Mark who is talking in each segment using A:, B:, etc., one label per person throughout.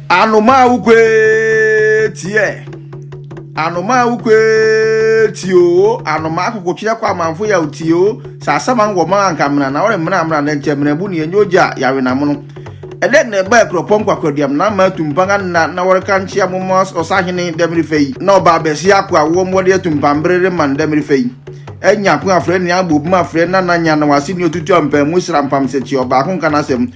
A: Anomaa wo kwee tiɛ. Anomaa wo kwee tiɛ o. Anomaa kokotwe akɔ amanfo yaw tiɛ o. Sɛ asɛm an wɔ ma anka mena na wɔre mena mena na nkyɛ mena bu ne enyo gya yawe na mono. Ɛdɛ na ɛba ɛkurɔpɔ nkwakwaduam na ama atumpan anna na wɔre ka nkyea mo ma ɔsahene dɛm refa yi. Na ɔbaa bɛsi ako a wɔn wɔde atumpan bere rema no dɛm refa yi. Nyakun afrɛ nea abobum afrɛ na na nya na wase ne otutu ampaa mu sra mpam sɛ kye ɔbaako nka n'asɛm.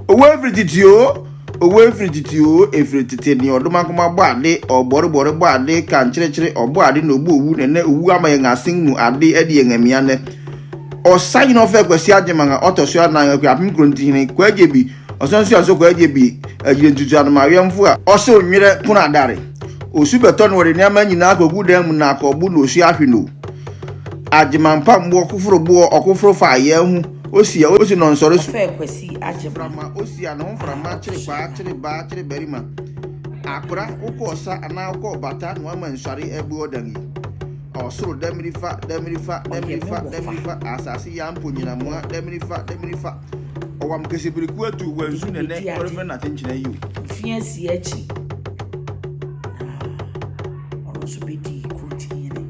A: Owo efiri titi o, owo efiri titi o, efiri tete ne ɔdom akoma bɔ ade, ɔbɔrebɔre bɔ ade, ka nkyerekyere, ɔbɔ ade na obu owu, nɛnɛ owu ama yɛn asen mu ade adi yɛn amia nɛ. Ɔsa nyina ɔfɛ Kwasi Agyeman a ɔtɔ so anan, Akuapem Kurontihene, Kwagyebi, Ɔsan so asokɔ agye bi agyina ntutua no ma awɛmfo a. Ɔsew nwerɛ pono adare. Osu bɛtɔ na ɔde nneɛma nyinaa akɔgu dan mu na akɔbo na osu ahwe no. Agyemampamboɔ koforo boɔ ɔkoforo fa ayɛɛ ho osia osi na ɔnsɔre so. Ɔfɛɛ Kwasi Agyema.
B: Mframa osia ne ho mframa
A: kyere paa kyere baa kyere barima. Akora wokɔ ɔsa anaa wokɔ ɔbata na wama nsɔre abu ɔdan yi. Ɔsoro damiri fa damiri fa damiri fa damiri fa asase yampo nyinamoa damiri fa damiri fa. Ɔwam kese biriku atu wɔ nsu nɛnɛ ɔrefɛ na tenkyina yi o. Mfie asie akyi
B: na ɔno nso bɛdi kuroti yene.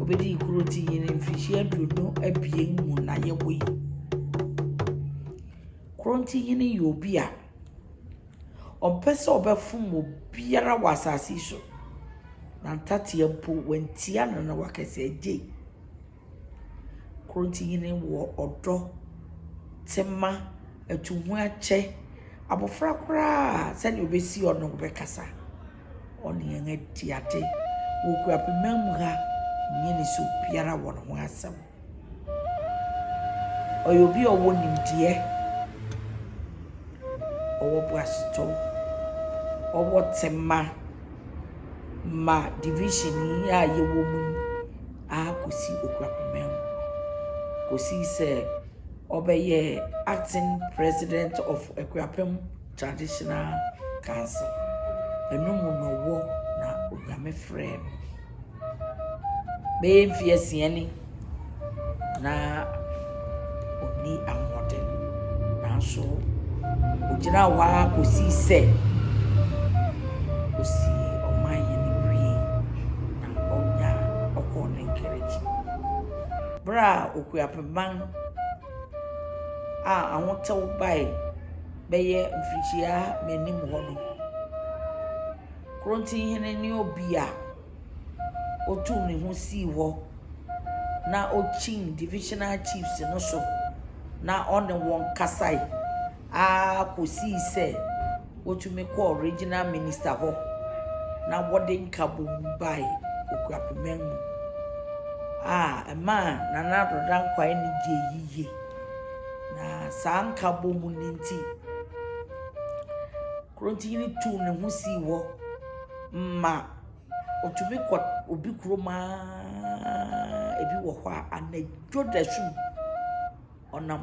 B: Ɔbɛdi kuroti yene mfirihyia aduonu abien mu na yɛwɔ yi. Kuroti yene yɛ obi a ɔmpɛ sɛ ɔbɛfom obiara wɔ asase so. Na ntateɛ mpo wantia no na wakɛsɛ agye. Korɔntohene wɔ ɔdɔ, tema, atuhoakyɛ. Abɔfra koraa a, sɛdeɛ ɔbɛsi ɔno bɛkasa. Ɔne yɛn adi ade. Wɔ Kwapima mu ha, ɔnyɛ ne sɛ obiara wɔ ne ho asɛm. Ɔyɛ obi a ɔwɔ nimdeɛ, ɔwɔ boasetɔ, ɔwɔ tema ma division yi a yɛwɔ mu yi. ara kɔsii ɔkura poma mu, kɔsii sɛ ɔbɛyɛɛ acting president of Akuapem Traditional Council. Ɛno mu na ɔwɔ na Onyame frɛɛ no. Bɛyɛ mfeɛ nsia ni na. ɔnni ahoɔden. Nanso ɔgyinaa hɔ ara kɔsii sɛ ɔsii ɔman yi ne wiee na ɔnya ɔkɔɔ ne nkerekye. Berɛ a Okuapemman a ahotɛw bae bɛyɛ mfirihyia m'anim hɔ no, Korontinhene ne obi a. otuu ne ho sii hɔ na okyin divisional chiefs no so na ɔne wɔn kasae ara kosii sɛ wotumi kɔɔ regional minister hɔ na wɔde nkabom bae Okuapemang mu a ɛmaa Nana Addo Dankwa ani gyee yiye. Na saa nkabom no nti, Kurontini tuu ne ho sii hɔ ma otumi kɔ obi kurom a ebi wɔ hɔ a anadwo dasu ɔnam.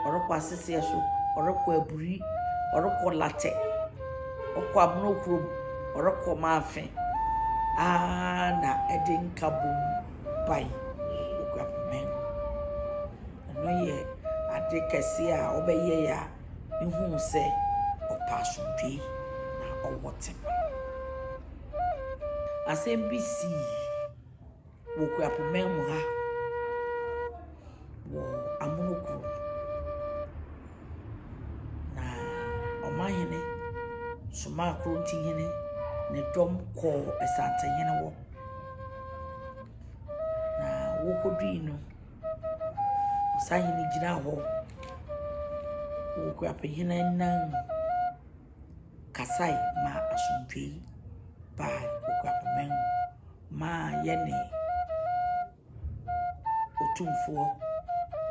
B: Ɔrekɔ Aseseɛ so, ɔrekɔ Aburi, ɔrekɔ Latɛ, ɔkɔ Abona kurom, ɔrekɔ Maafe aa na ɛde nkabom bae wɔ Guapo man mu. Ɛno yɛ ade kɛseɛ a ɔbɛyɛe a. no huu sɛ ɔpɛ asomdwoe na ɔwɔ tema. Asɛm bi sii wɔ Kuapoma mu ha wɔ amono kurom. Na ɔmanhene somaa Korontihene ne dɔm kɔɔ Asantehene hɔ. Na wɔkɔdui no. Ɔsahene no gyina hɔ wɔ Ɔkurapɛhene nan mu kasae ma asomdwoe baa Ɔkurapɛman mu ma yɛne Otumfoɔ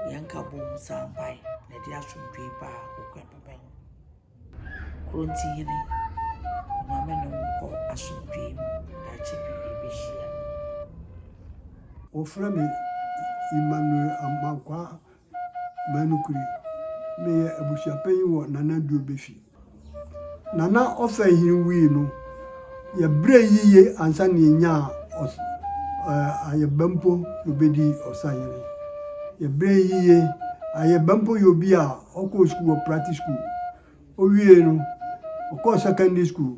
B: yɛn nkabom san bae na ɛde asomdwoe baa Ɔkurapɛman mu. Korontihene Onyame ne wo nkɔ
C: asomdwee mu daakye bi yɛbɛhyia. Wɔfrɛ me Emmanuel Amankwaa Manukuri. Meyɛ abusuapanyin wɔ Nana Duobe fi. Nana Ɔfɛnhene wui no, yɛbrɛɛ yiye ansa na yɛnyaa Ayɛba mpo na ɔbɛdii ɔsahene. Yɛbrɛɛ yiye. Ayɛba mpo yɛ obi a Ɔkɔɔ sukuu wɔ Prati School. Owiei no, ɔkɔɔ secondary school.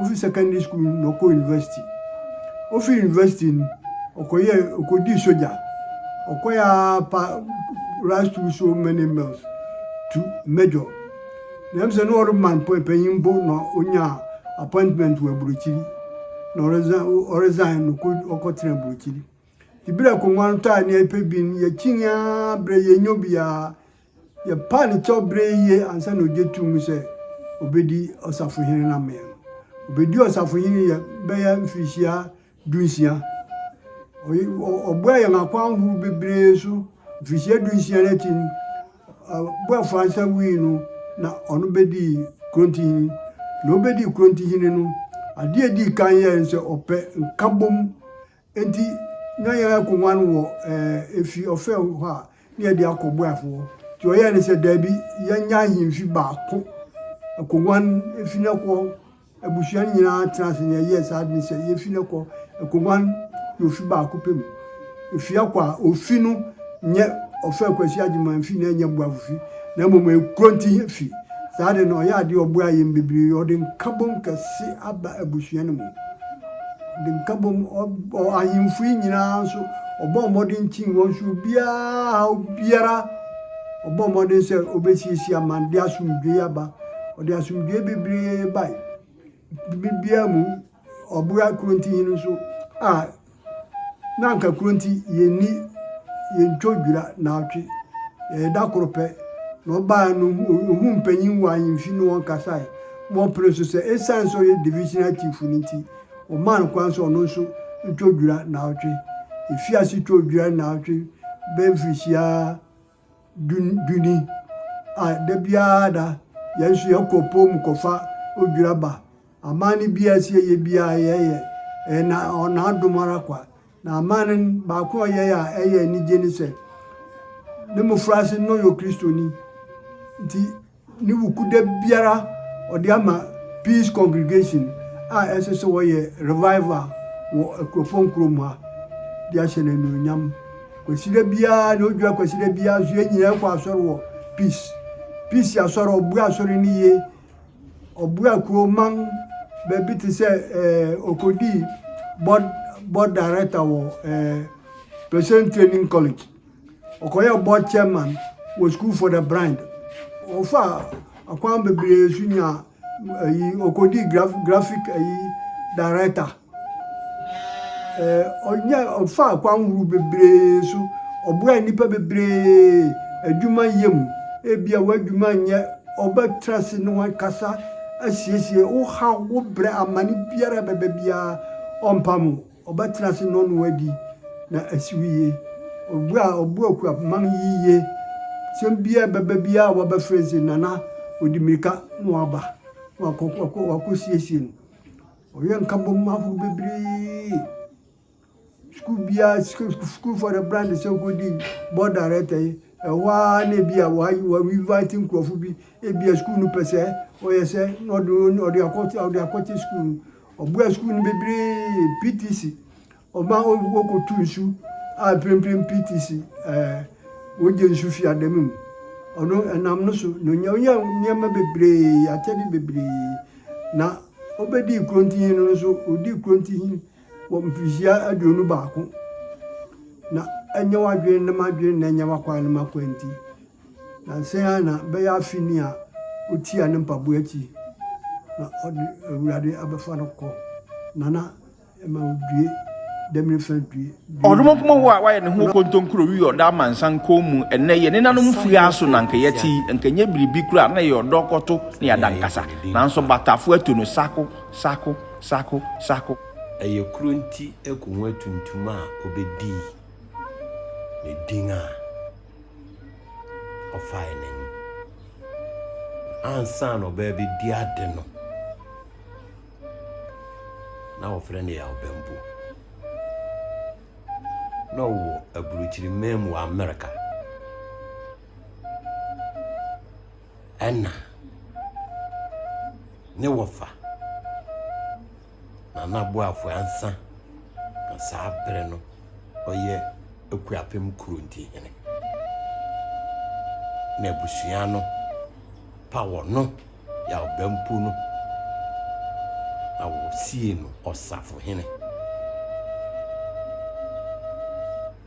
C: Ofi secondary school no na ɔkɔɔ university. Ofi university no, ɔkɔyɛ ɔkɔdii sogya. Ɔkɔyɛ ara pa rise through so many miles to major. Na ɛm sɛ na ɔreman panyin bo na ɔnyaa appointment wɔ aburokyiri. Na ɔresan ɔresan na ɔkɔ ɔkɔtena aburokyiri. Ebira akonnwa no ta ne yɛpɛ bi no, yɛkyini ara berɛ yɛnya bi ara. Yɛpa ne kyɛw berɛ yie ansa na ɔgye to mu sɛ ɔbɛdi ɔsafohene no amee no. Ɔbɛdi ɔsafohene yɛ bɛyɛ mfirihyia dunsia. Ɔboa yɛn akwan horow bebree so. Mfirihyia dunsia no akyi no, Boafo ansa wui no, na ɔno bɛdii Kurontihene. Na ɔbɛdii Kurontihene no, adeɛ a ɛdii kan yɛɛ no sɛ ɔpɛ nkabom Enti na yɛrekɔguan wɔ efi ɔfɛw hɔ a na yɛde akɔ boafo hɔ. Nti ɔyɛɛ ne sɛ, Dabi, yɛnyɛ ahemfi baako. Ɛkɔguan efi no kɔ. Abusua no nyinaa tena ase na yɛyɛɛ saa ade no sɛ yefi no kɔ. Ɛkɔguan yɛ ofi baako pɛ mu. Efi akɔ a, ofi no nyɛ ɔfɛw Kwasi Agyeman fi na ɛnyɛ boafo fi, na mmom ɛyɛ kuro ntihe fi. Saa de no, ɔyɛ ade a ɔboaa yɛn bebree. Ɔde nkabom kɛse aba abusua no mu. Ɔde nka bom, ahemfo yi nyinaa nso, ɔbɔɔ mmɔden kyii wɔn so, obiara, haw biara, ɔbɔɔ mmɔden sɛ obesiesie ama no de asomdwoe aba. Ɔde asomdwoe bebree bae. Biribiara mu, ɔboa Kuronti hene nso a na anka Kuronti yenni yentwa odwira naawɔtwe, ɛyɛ da koro pɛ na ɔbae no, ohuu mpanyin wɔ ahemfi ne wɔn kasae. Wɔpere nso sɛ esiane sɛ ɔyɛ Divisional Chief no nti, wɔmaa no kwan sɛ ɔno nso ntwa dwira nnaawɔtwe. Efii ase twaa dwira nnaawɔtwe bɛyɛ mfirihyia du du ni a da biara da yɛn nso yɛkɔ ɔpɔw mu kɔfa odwira ba. Amanne biara a ɛsɛ yɛyɛ biara yɛyɛ. Ɛyɛ na n'adom ara kwa. Na amanne baako a ɔyɛe a ɛyɛ anigye ne sɛ ne mmofraase no na ɔyɛ Okristoni nti, Ne Wukuda biara ɔde ama Peace Congregation a ɛnso sɛ wɔyɛ Revival wɔ Akuropɔn kurom ha de ahyɛ no anuonyam. Kwasida biara ne odwira kwasida biara nso yɛn nyinaa kɔ asɔre wɔ Peace. Peace asɔre ɔboa asɔre no yie. Ɔboa kuroman baabi te sɛ eh, ɔkɔdii board, board director wɔ eh, President Training College. Ɔkɔyɛɛ board chairman wɔ School for the Blind. Ɔfaa akwan bebree so nyaa ayi ɔkɔdii graf graphic ayi director. Ɛɛ ɔnya ɔfaa akwan horow bebree so. Ɔboaa nnipa bebree adwuma yɛ mu. Ebia w'adwuma nyɛ ɔbɛtra ase ne wo ankasa asiesie wo haw wo brɛ amane biara a ɛbɛba biara ɔmpam wo. Ɔbɛtena ase na ɔne wo adi na asi wo yie. Ɔbu a ɔbu Akuapem ma no yiye. Asɛm biara a ɛbɛba biara a wɔbɛfrɛ no sɛ Nana ɔdi mmirika na waba na wakɔsiesie no. Ɔyɛ nkabom ahorow bebree. Sukuu biara, sukuufoɔ no bra no sɛ wokɔdi board director yi, ɛhɔ ara na ebi a wɔinvite nkurɔfo bi, ebi a sukuu no pɛ sɛ ɔyɛ sɛ na ɔde akɔte sukuu no. Ɔboaa sukuu no bebree, PTC, ɔma wɔkɔtu nsu a mprempren PTC eh, wogye nsu fi adamu mu. Ɔno ɛnam no so na onya onya nneɛma bebree, akyɛde bebree. Na obedii kurontihin no nso, odii kurontihin wɔ mfirihyia aduonu baako. Na ɛnyɛ w'adwene ne m'adwene na ɛnyɛ w'akwan ne m'akwan nti. Nnansa yi ara na bɛyɛ afe ni a otiaa ne mpaboa akyi na ɔde Awurade abɛfa no kɔ Nana ɛma odue Damini fã due. Ɔdomonkoma hɔ a
A: wayɛ ne ho kontonkuro wi ɔda amansan kɔn mu ɛnnɛ yɛ nenanom fuaa so na anka yɛte yi anka ɛnyɛ biribi koraa na ɛyɛ ɔdɔ kɔto ne adankasa nanso batafo atu no sako sako sako sako. Ɛyɛ kuro nti
D: ɛko ho atuntum a ɔbɛdii ne din a. ɔfae n'ani ansa na ɔbaa bi di ade no na wɔfrɛ no yawbɛmbo na ɔwɔ aburukyiri man mu wɔ amerika ɛna ne wɔfa Nana Boafo Ansa na saa bere no ɔyɛ Akuapem Kuronti hene, na abusua no pa wɔ no yɛ ɔbɛmpo no na wɔsiee no ɔsafohene.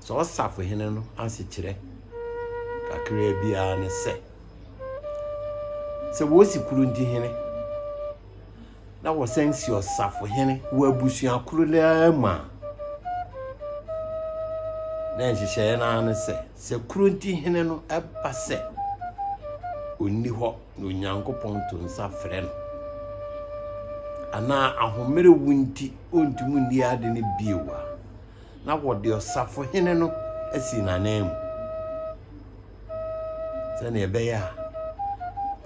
D: Sɛ ɔsafohene no asekyerɛ kakraa biara ne sɛ, sɛ wɔsi Kuronti hene, na wɔsan si ɔsafohene wɔ abusua koro no ara mu a, na nhyehyɛeɛ no ara ne sɛ, sɛ kuro nti hene no ɛba sɛ ɔnni hɔ na Onyankopɔn to nsa frɛ no, anaa ahomerewo nti ɔntumi nni ade no bio a, na wɔde ɔsafohene no asi n'ananmu. sɛnea ɛbɛyɛ a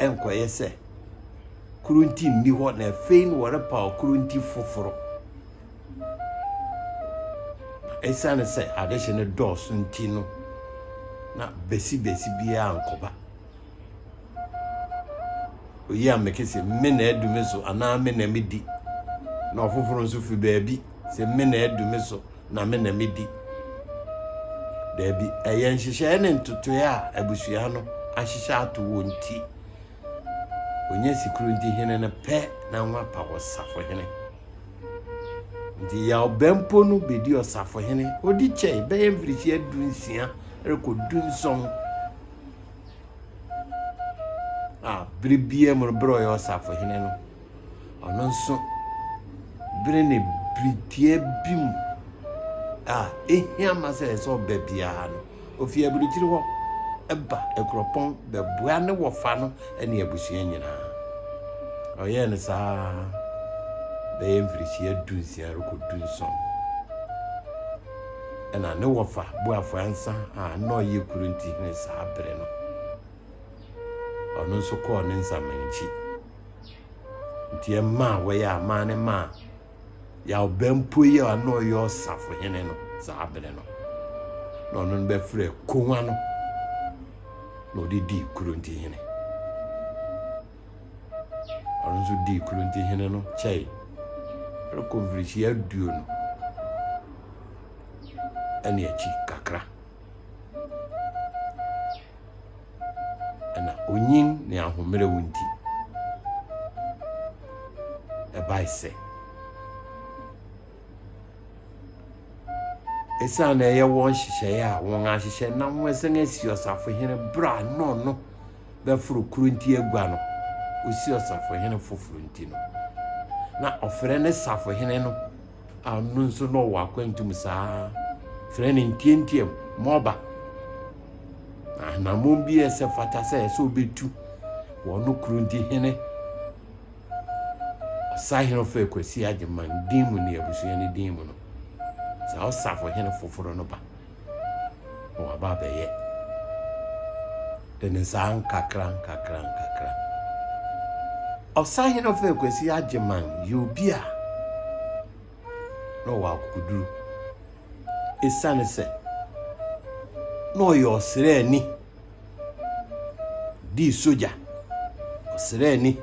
D: ɛnkɔyɛ sɛ koro nti nni hɔ na afei no wɔrepaw koro nti foforo ɛsiane sɛ adehye no dɔɔso nti no na besibesi biara nkɔba oyi a meke sɛ me na adu me so anaa me na medi na ɔfoforo nso fi baabi sɛ me na adu me so na me na medi. Daabi, ɛyɛ nhyehyɛe ne ntotoe a abusua no ahyehyɛ ato wɔ nti. Onye sikuru nti hene no pɛ na nwa pa wɔ safohene. Nti yaw bɛmpo no bedi ɔsafohene odi kyɛe bɛyɛ mfirihyia du nsia rekɔ du nson a bere biara mu no bere ɔyɛ ɔsafohene no Ɔno nso, bere ne bere tiaa bi mu a ehia ma sɛ ɛsɛ sɛ ɔba biara no, ofi aburukyiri hɔ ba Akuropɔn bɛboa ne wɔfa no ne abusua nyinaa. Ɔyɛɛ no saa bɛyɛ mfirihyia dunsia rekɔ dunson. Ɛna ne wɔfa Boafo Ansa a na ɔyɛ kuro nti hene saa bere no, ɔno nso kɔɔ ne nsaman akyi. nti ɛmaa wɔyɛ amaa ne maa yɛabɛmpo yi a na ɔyɛ ɔsafohene no saa bere no na ɔno no bɛfrɛ konwa no na ɔde dii kuronti hene ɔno nso dii kuronti hene no kyɛe ɛrekɔ mfirihyia aduonu ɛne akyi kakra na onyin ne ahomerew nti, ɛbae sɛ esiane na ɛyɛ wɔn nhyehyɛe a wɔahyehyɛ na wɔasan asi ɔsafohene bere a na ɔno bɛforo koro nti agua no, osi ɔsafohene foforo nti no, na ɔfrɛ no safohene no a ɔno nso na ɔwɔ akwantu mu saa frɛ no ntiantiam mɔba na anammɔn bi a ɛsɛ fata sɛ ɛsɛ ɔbɛtu wɔ ɔno kuro nti hene ɔsahene ɔfɛ kwasi agyeman din mu ne abusua no din mu no saa ɔsafo hene foforɔ no ba na waba abɛyɛ dene saa nkakrankakra. Ɔsahene Ɔfɛɛ Kwasi Agyeman yɛ obi a na ɔwɔ akokoduru. Esiane sɛ na ɔyɛ ɔsraani. dii sogya, ɔsraani,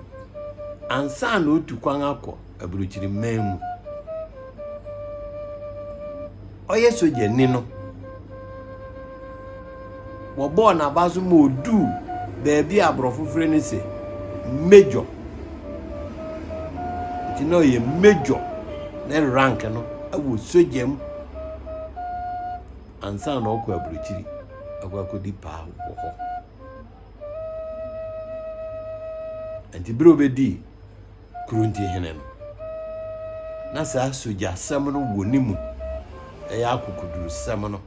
D: ansa na otu kwan akɔ aburokyiri man mu. Ɔyɛ sogyani no, wɔbɔɔ n'aba so ma oduu baabi a aborɔfo frɛ no sɛ major. Nti na ɔyɛ major ne rank no wɔ sogya mu. ansa na ɔkɔ aburokyiri akɔ akɔdi paa wɔ hɔ nti bere obɛdii kurunti hene no na saa sogyasɛm no wɔ ne mu ɛyɛ akokodurusɛm no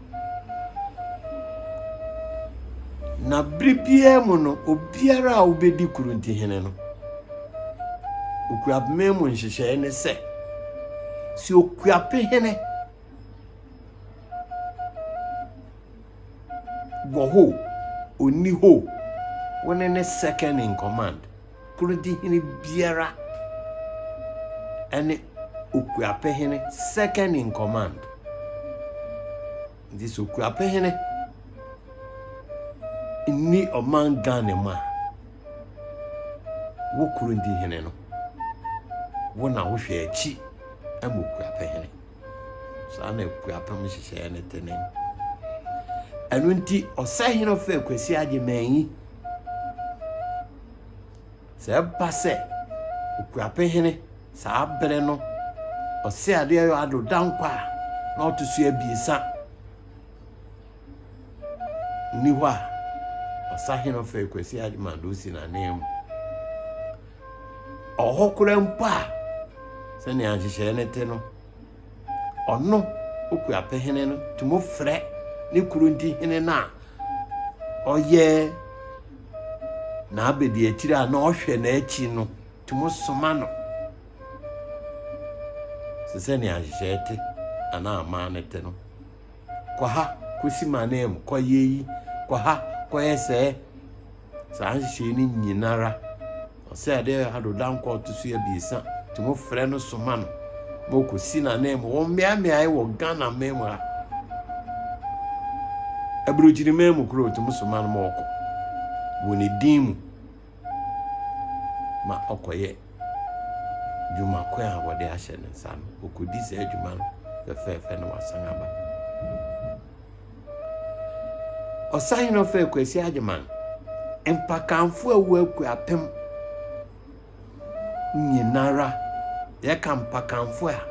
D: na bere biara mu no obiara a wobɛdi kurunti hene no okuapeme mu nhyehyɛe ne sɛ sɛ okuape hene Wɔ hɔ o, ɔnni hɔ o, wo ne ne second in command, Kurodihene biara ne Okuapehene second in command. Nti sɛ Okuapehene nni ɔman Ghana mu a, wo Kurodihene no, wo na wohwɛ akyi ma Okuapehene. Saa na akuapem nhyehyɛeɛ no tene. Ɛno nti ɔsahene ɔfɛ Kwasi Agyemanyi sɛ ɛba sɛ okuapem hene saa bere no ɔsɛ adeɛ yɛ ado dankwa a na ɔto so abiesa nni hɔ a ɔsahene ɔfɛ Kwasi Agyemanyi na ɔsi n'anan mu. Ɔwɔ hɔ koraa mpo a, sɛnea nhyehyɛe no te no, ɔno okuapɛ hene no tumi frɛ ne kuro nti hene no a ɔyɛ n'abadiakyiri a na ɔhwɛ n'akyi no tumi soma no sɛ sɛnea nhyehyɛe te anaa aman no te no kɔ ha kɔsi m'ananmu kɔyɛ yi kɔ ha kɔyɛ sɛɛ saa nhyehyɛe no nyinara, ɔsɛ ade a ado da nkwa ɔto so abiɛsa, nti mo frɛ no soma no ma ɔkɔsi n'anan mu wɔ mmeaemmeae wɔ Ghana man mu ha. Aburokyiri man mu koro ɔtumi soma no ma ɔkɔ wɔ ne din mu ma ɔkɔyɛ dwuma ko a wɔde ahyɛ ne nsa no, ɔkɔdi saa adwuma no fɛfɛɛfɛ na wasan aba. Ɔsahene ɔfɛɛ Kwasi Agyeman, Mpakanfoɔ a wɔaku apem nyinara, yɛka Mpakanfoɔ a,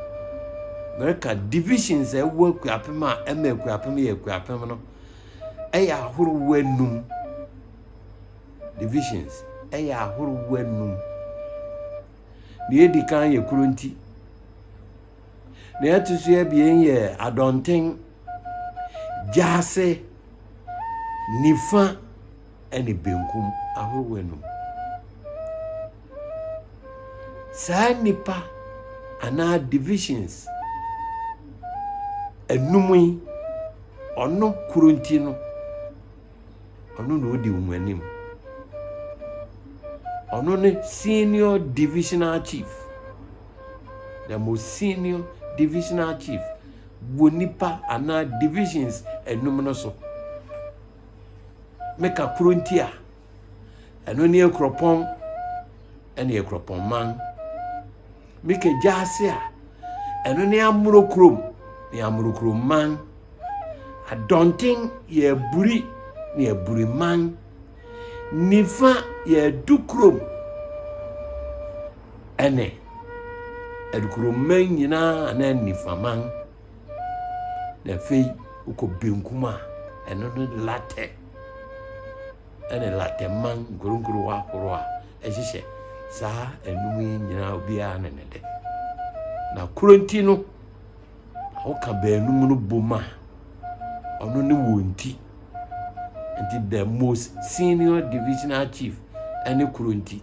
D: mereka divisions a ɛwɔ Akuapem a ɛma Akuapem yɛ Akuapem no, ɛyɛ ahorow anum. Divisions ɛyɛ ahorow anum. Nea edi kan yɛ Kuronti, Nea ɛto so abien yɛ adɔnten, gyaase, nifa ne benkum ahorow anum. Saa nipa anaa divisions anum yi, ɔno koro nti no, ɔno na odi wɔn anim. Ɔno ne senior divisional chief. Na mo senior divisional chief wɔ nipa anaa divisions enum no so. Meka koro nti a, ɛno ne akuropɔn ɛne akuropɔn man. Meka gyaase a, ɛno ne amoro kurom ne amoro kurom man. Adɔnten yɛ aburi ne aburi man. Nifa yɛ Adukurom ɛne Adukuromman nyinaa anaa Nifaman. Na afei wokɔ benkum a ɛno no Latɛ ɛne Latɛman nkuronkuro ahorow a ɛhyehyɛ saa anum yi nyinaa obiara ne ne de. Na kuro nti no. Woka baanum no bom a, ɔno ne wɔn ti. Nti the most senior divisional chief ne kuro nti.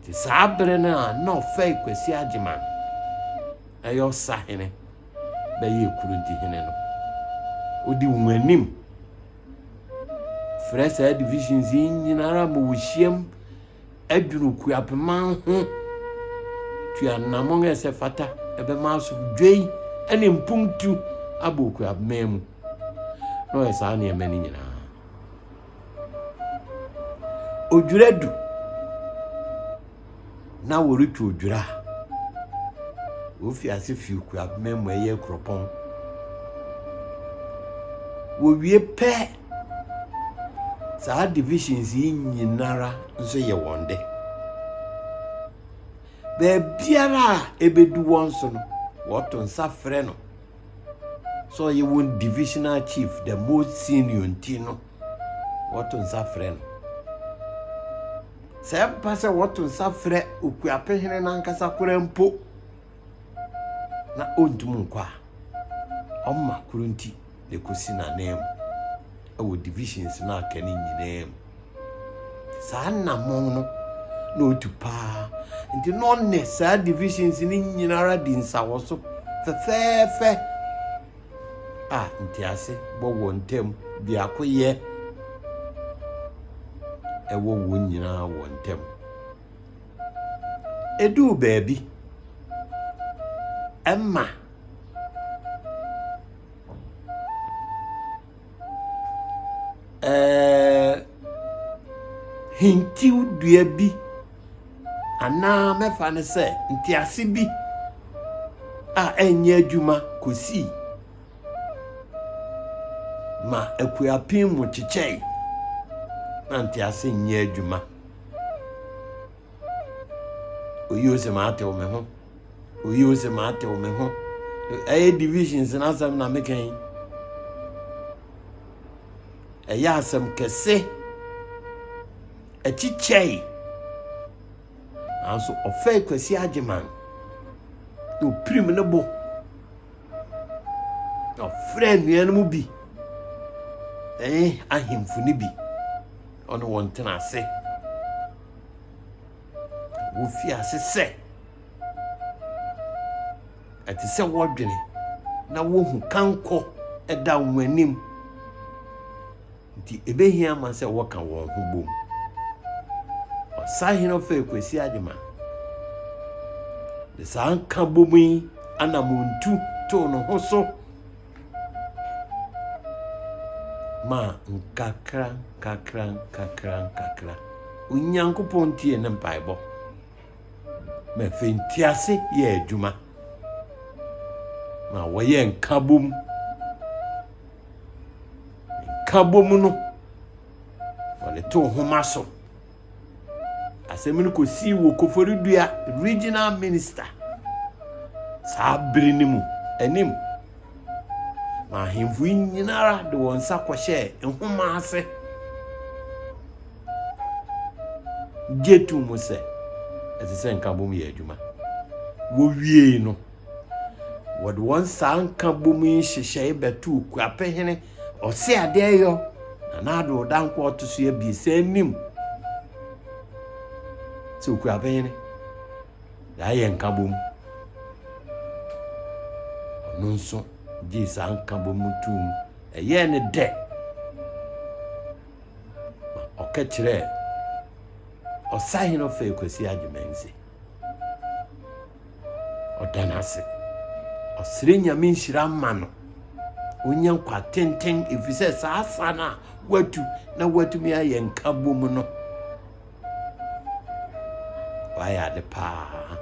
D: Nti saa bere no a na ɔfɛe Kwasi Agyeman ɛyɛ ɔsahene bɛyɛ kuro nti hene no. Wodi wɔn anim frɛ saa divisions yi nyinara ma wɔhyiam Aduru Kuapeman ho tua anammɔn a ɛsɛ fata ɛbɛma asomdwoe ne mpuntu abɔ Kuapeman mu, na ɔyɛ saa nneɛma no nyinaa. Odwira du na wɔretu odwira a, wofi ase fi Kuapeman mu ɛyɛ kuropɔn. Wɔwie pɛ Saa divisions yi nyinara nso yɛ wɔn de. Baabiara a ɛbɛdu wɔn so no, wɔto nsa frɛ no sɛ ɔyɛ wɔn divisional chief, the most senior nti no, wɔto nsa frɛ no. Sɛ ɛba sɛ wɔto nsa frɛ okuapehene no ankasa koraa mpo, na ɔntum nkɔ a, ɔma koro nti na ɛkɔsi n'ananmu wɔ divisions no aka no nyinaa mu. Saa nnamɔn no na ɔtu paa nti na ɔne saa divisions no nyinara di nsawɔ so fɛfɛɛfɛ a ntease bɔ wɔn ntam biako yɛ ɛwɔ wɔn nyinaa wɔn ntam. Eduu baabi ma hintiw dua bi anaa mɛfa no sɛ ntease bi a ɛnyɛ adwuma kosii ma akuapem mu kyekyɛe na ntease nyɛ adwuma. Oyo se matew me ho. Oyo se matew me ho. Ɛyɛ divisions n'asɛm na meka yi. Ɛyɛ asɛm kɛse. Ɛkyikyɛe. Nanso ɔfɛe Kwasi Agyeman. Na opirim ne bo. Na ɔfrɛ nnuan mu bi. Ɛyɛ ahemfo no bi. ɔne wɔn tena ase. Wofi ase sɛ ɛte sɛ wɔdwene na wohu kankɔ ɛda wɔn anim nti ebehia ma sɛ wɔka wɔn ho bom. Ɔsahene ɔfɛ Kwesi Agyema de saa nka bom yi anamontu too ne ho so. maa nkakrankakrankakrankakra. Onyankopɔn tiee ne mpaebɔ, ma afei ntease yɛɛ adwuma, ma wɔyɛɛ nkabom. Nkabom no, wɔde too nhoma so. Asɛm no kɔsii wɔ Koforidua Regional Minister saa bere no mu anim ma ahemfo yi nyinara de wɔn nsa kɔhyɛɛ nhoma ase gye to mu sɛ ɛsɛ sɛ nkabom yɛ adwuma. Wɔwiei no, wɔde wɔn saa nkabom yi nhyehyɛe bɛtoo Kuapehene Ɔse ade ɛyɔ na n'ado ɔda nko ɔto so abiesa anim sɛ okura bɛnyene yɛayɛ nkabom ɔno nso gyee saa nkabom no too mu ɛyɛɛ ne dɛ ma ɔka kyerɛɛ ɔsahene ɔfɛ kwasi agyemansi Ɔda no ase. Ɔsrɛ Nyame nhyira ma no. Ɔnya nkwa tenten ɛfiri sɛ saa sa no a watu na watumi ayɛ nkabom no, wayɛ ade paa.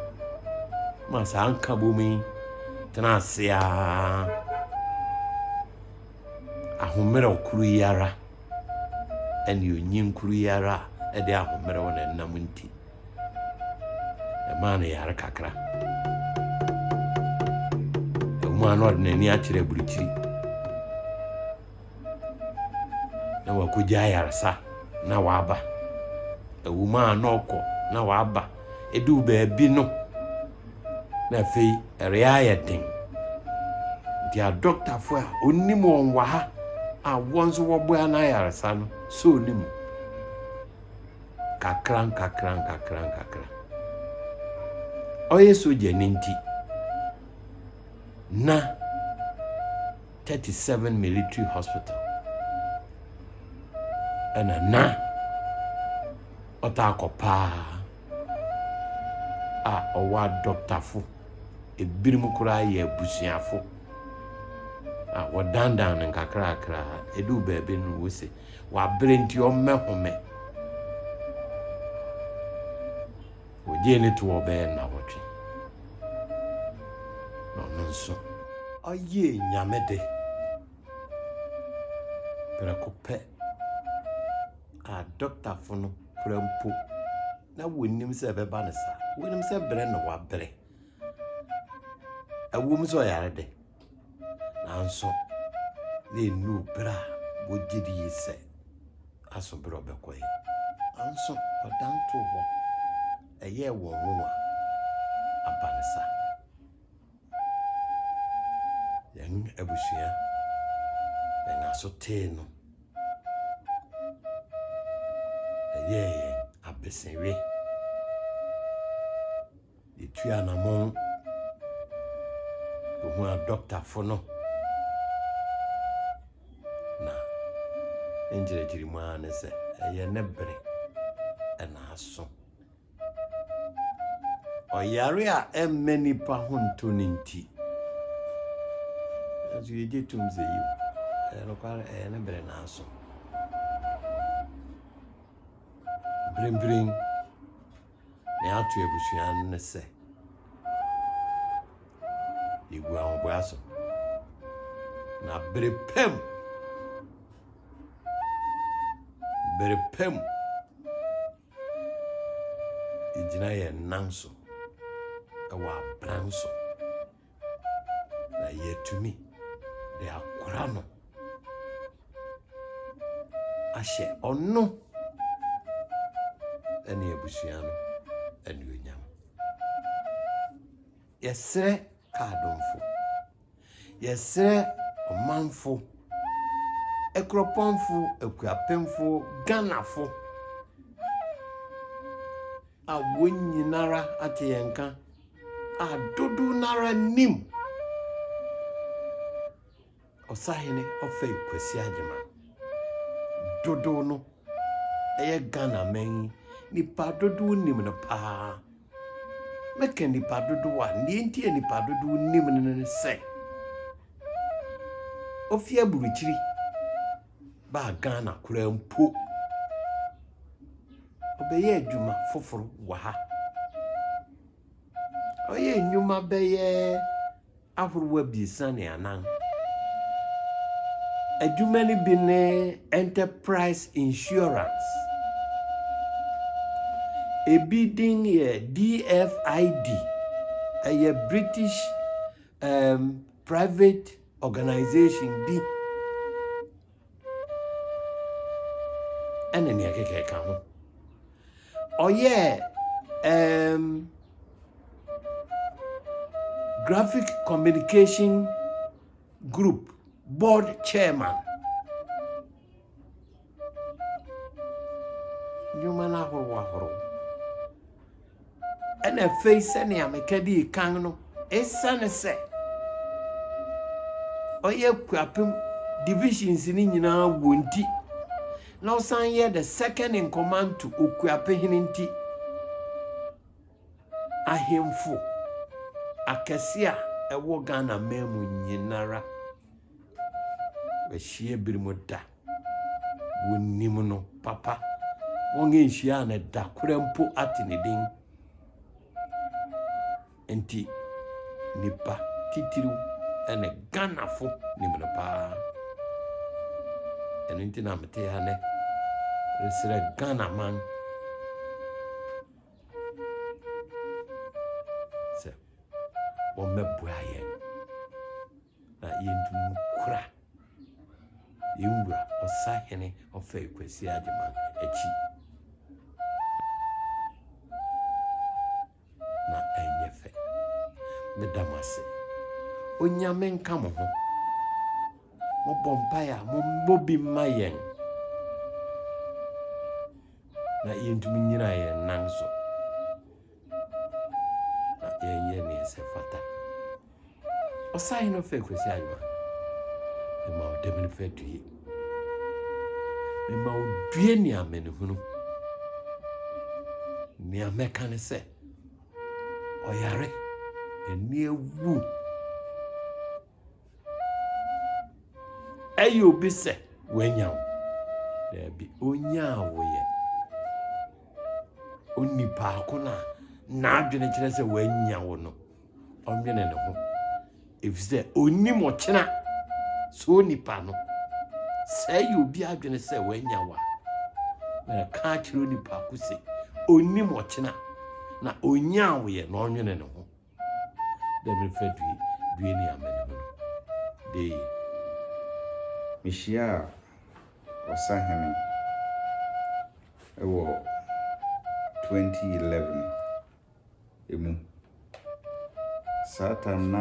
D: Ma saa nkabom yi tena ase ara ahomerɛw koro yi ara ɛne onyin koro yi ara a ɛde ahomerɛw na ɛnam nti. Ɛmaa no yare kakra. Ɛwom ara na ɔde n'ani akyerɛ aburukyiri na wakogye ayaresa na waba. Ɛwom ara na ɔkɔ na waba. Eduu baabi no, na afei ɛreyɛ den. Nti adɔktafo a onim wɔn wɔ ha a wɔn nso wɔboa n'ayaresa no soo ne mu. nkakrankakrankakrankakra. Ɔyɛ sogyani nti, na 37 Military Hospital ɛna na ɔtaa kɔ paa a ɔwɔ adɔktafo ebinom koraa yɛ abusuafo a wɔdandan no nkakrakra ɛdu baabi no wose Wabrɛ nti ɔmmɛhome. Wogyee no toɔ bɛyɛ nnawɔtwe na ɔno nso ɔyɛɛ Nyame de. Prɛko pɛ a dɔktafo no kura mpo na wɔnnim sɛ ɛbɛba no saa. Wɔnim sɛ brɛ na wabrɛ. Ɛwom sɛ ɔyare de. Nanso, na ennuu bere a wogye dii sɛ aso bere a ɔbɛkɔ ɛ. Nanso, ɔdan too hɔ. Ɛyɛɛ wɔn nwonwa. Aba ne saa. Yɛn abusua, yɛn aso tee no. Ɛyɛɛ yɛn abesewe. Yɛtu anamɔn kɔhu a dɔktafo no na ne nkyerɛkyerɛ mu ara ne sɛ ɛyɛ ne bere ɛna aso. Ɔyare a ɛmmɛ nipa ho nto ne nti nanso yɛgye tom sɛ yiw ɛyɛ nokware ɛyɛ ne bere na aso. Mprempren Nea ato abusua no ne sɛ yɛgu ahoboa so na bere pam bere pam yɛgyina yɛn nan so ɛwɔ abran so na yɛatumi de akora no ahyɛ ɔno ne abusua no anuonyam. Yɛsrɛ kaadomfo, yɛsrɛ ɔmanfo, akuropɔnfo, akuapemfo, Ghanafo a wɔn nyinara ate yɛn nka. A dodow no ara nim Ɔsahene Ɔfɛe Kwasi Agyemang. Dodow no yɛ Ghanaman yi nnipa dodow nim no paa. Mɛka nnipa dodow a, nea enti a nnipa dodow nim no ne sɛ, ofi aburukyiri. baa Ghana koraa mpo. Ɔbɛyɛɛ adwuma foforo wɔ ha. Ɔyɛɛ nnwuma bɛyɛ ahorow abiɛsa ne anan. Adwuma no bi ne Enterprise Insurance. Ebi din yɛ DFID, ɛyɛ British um, Private Organisation bi ɛne nea ɛkeka ɛka ho ɔyɛɛ um, graphic communication group board chairman Nnwuma no ahorow ahorow. Ɛna afei sɛnea meka dii kan no, esiane sɛ ɔyɛ kuapem divisions no nyinaa wɔ nti, na ɔsan yɛ the second in command to okuapehene nti, ahemfo akɛse a ɛwɔ Ghana man mu nyinara Wɔahyia binom da. Wɔnim no papa. Wɔnhyiaa no da koraa mpo ate ne din. Nti, nipa titiriw ne Ghanafo nim no paa. Ɛno nti na mete ha nnɛ resrɛ Ghana man sɛ wɔmmɛboa yɛn. na yɛntum nkura yɛn wura ɔsahene ɔfɛe Kwasi Agyemang akyi. Na ɛnyɛ fɛ. Meda mo ase. Onyame nka mo ho. Mobɔ mpaeɛ a mommɔ bi mma yɛn na yɛntumi nyina yɛn nan so. na yɛnyɛ nea ɛsɛ fata. Ɔsahene no fɛ Kwasi Anwa, mema wo dɛm no fɛ due. Mema wo due ne amanehunu. Nea mɛka ne sɛ, ɔyare, ani awu. Ɛyɛ obi sɛ wanya wo. Daabi, onyaa wo yɛ. Onipaako no a n'adwene kyerɛ sɛ wanya wo no, ɔnwene ne ho. Efisɛ onim ɔkyena. So onipa no, sɛ ɛyɛ obi adwene sɛ wanya wo a, na ɛka akyerɛ onipaako sɛ onim ɔkyena na onyaa wo yɛ na ɔnwene ne ho. dɛ memfa due due ne amanehunu de ye.
A: Mihyiaa ɔsahene wɔ 2011 mu. Saa tam na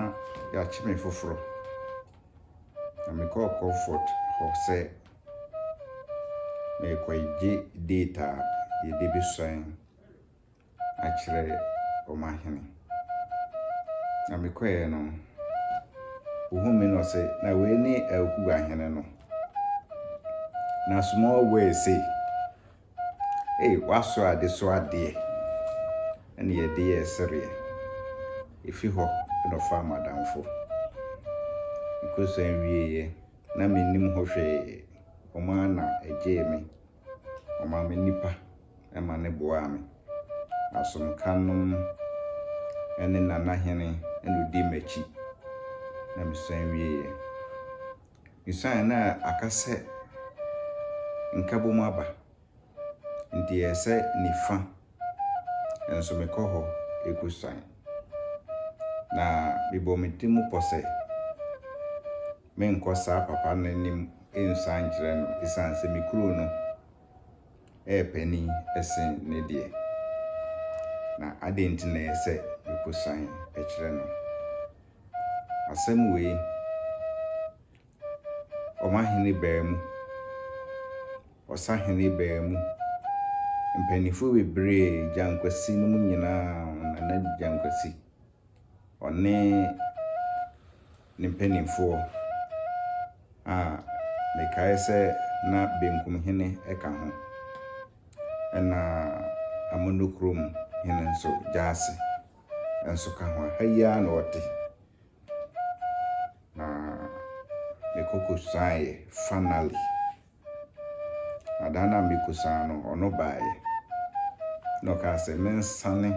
A: yɛakye me foforɔ, na mekɔɔ Comfort hɔ sɛ merekɔgye data a yɛde bɛsuan. akyerɛ wɔn ahene. Na mekɔeɛ no, wɔhuu me na ɔse, na wei ne Elku ahene no. Na small wei se, ei w'aso ade so adeɛ ɛne yɛde yɛ sereɛ. Efi hɔ na ɔfaa m'adamfo. Mekɔsua wieeɛ na mennim ho hwee, wɔn ara na ɛgyee me. Ɔmaa me nnipa ma ne boaa me. Asomkanom ne Nana Hene na ɔdii m'akyi na mesan wieeɛ. Mesuaeɛ na aka sɛ nkabom aba nti ɛyɛ sɛ nifa nso mekɔ hɔ kɔsuan.
E: Na mebɔɔ me tirim pɔ sɛ. menkɔ saa papa no anim nsuan nkyerɛ no esiane sɛ me kuro no yɛ panin sen ne deɛ. Na adɛn nti na ɛyɛ sɛ mekɔsuan kyerɛ no? Asɛm wei, ɔmahene baa mu, ɔsahene baa mu, mpanimfoɔ bebree, Gyankwasi no mu nyinaa, Nana Gyankwasi, ɔne ne mpanimfoɔ a mekae sɛ na Benkum Hene ka ho, ɛna Amonokrom Hene nso, Gyasi nso ka ho a, ha yi ara na ɔte. Na mekɔkɔsuaeɛ finally. Na da no a mekɔsua no, ɔno baeɛ. Na ɔkaa sɛ mensane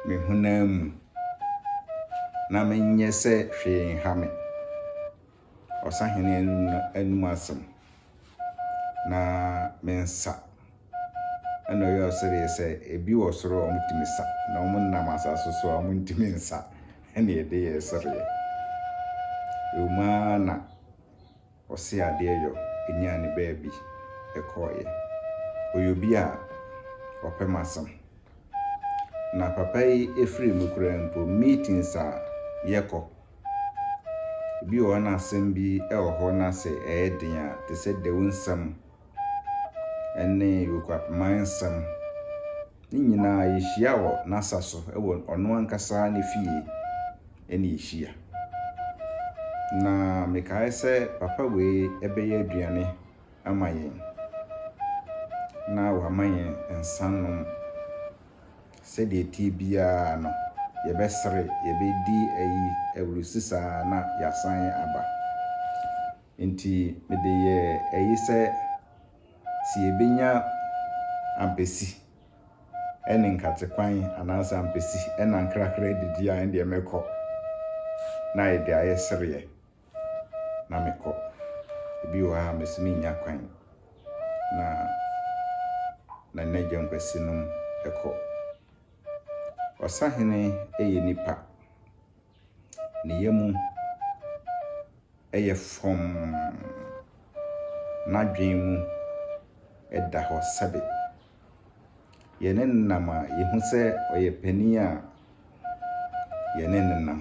E: me honam mu, na menyɛ sɛ hwee nha me. Ɔsahene no anom asɛm, na mensa. Ɛna ɔyɛ ɔsereɛ sɛ, ebi wɔ soro a wɔtumi sa, na wɔn nam asase so a wɔntumi nsa, ɛna ɛde yɛ sereɛ. Ɛwom ara na. Ɔse adeɛ yɔ nyaa ne baabi kɔɔeɛ. Ɔyɛ obi a ɔpɛ m'asɛm. Na papa yi ɛfiri mu koraa mpo meetings a yɛkɔ, ebi wɔ hɔ na asɛm bi wɔ hɔ na sɛ ɛyɛ den a, te sɛ Dawu nsɛm ne Yokwapman nsɛm, ne nyinaa yɛhyia wɔ n'asa so wɔ ɔno ankasa ne fie. na ɛhyia. Na mekaeɛ sɛ, Papa wei bɛyɛ aduane ama yɛn, na wama yɛn nsa nom. Sɛdeɛ ɛteɛ biara no, yɛbɛsere, yɛbɛdi ayi, awurusi saa na yɛasan aba. Enti mede yɛɛ ayi sɛ, sɛ yɛbɛnya ampesi ɛne nkate kwan anaasɛ ampesi ɛna nkrakra adidi a ɛndeɛ mɛkɔ na ayɛ deɛ ayɛ sereɛ na mekɔ ebi wɔ ha mesi menya kwan na na nna gya nkwasi nom ɛkɔ ɔsahene ɛyɛ nipa ne yamu yɛ frɔmm, n'adwene mu da hɔ sɛbe. Yɛ ne nenam a, yɛhu sɛ ɔyɛ panin a yɛ ne nenam.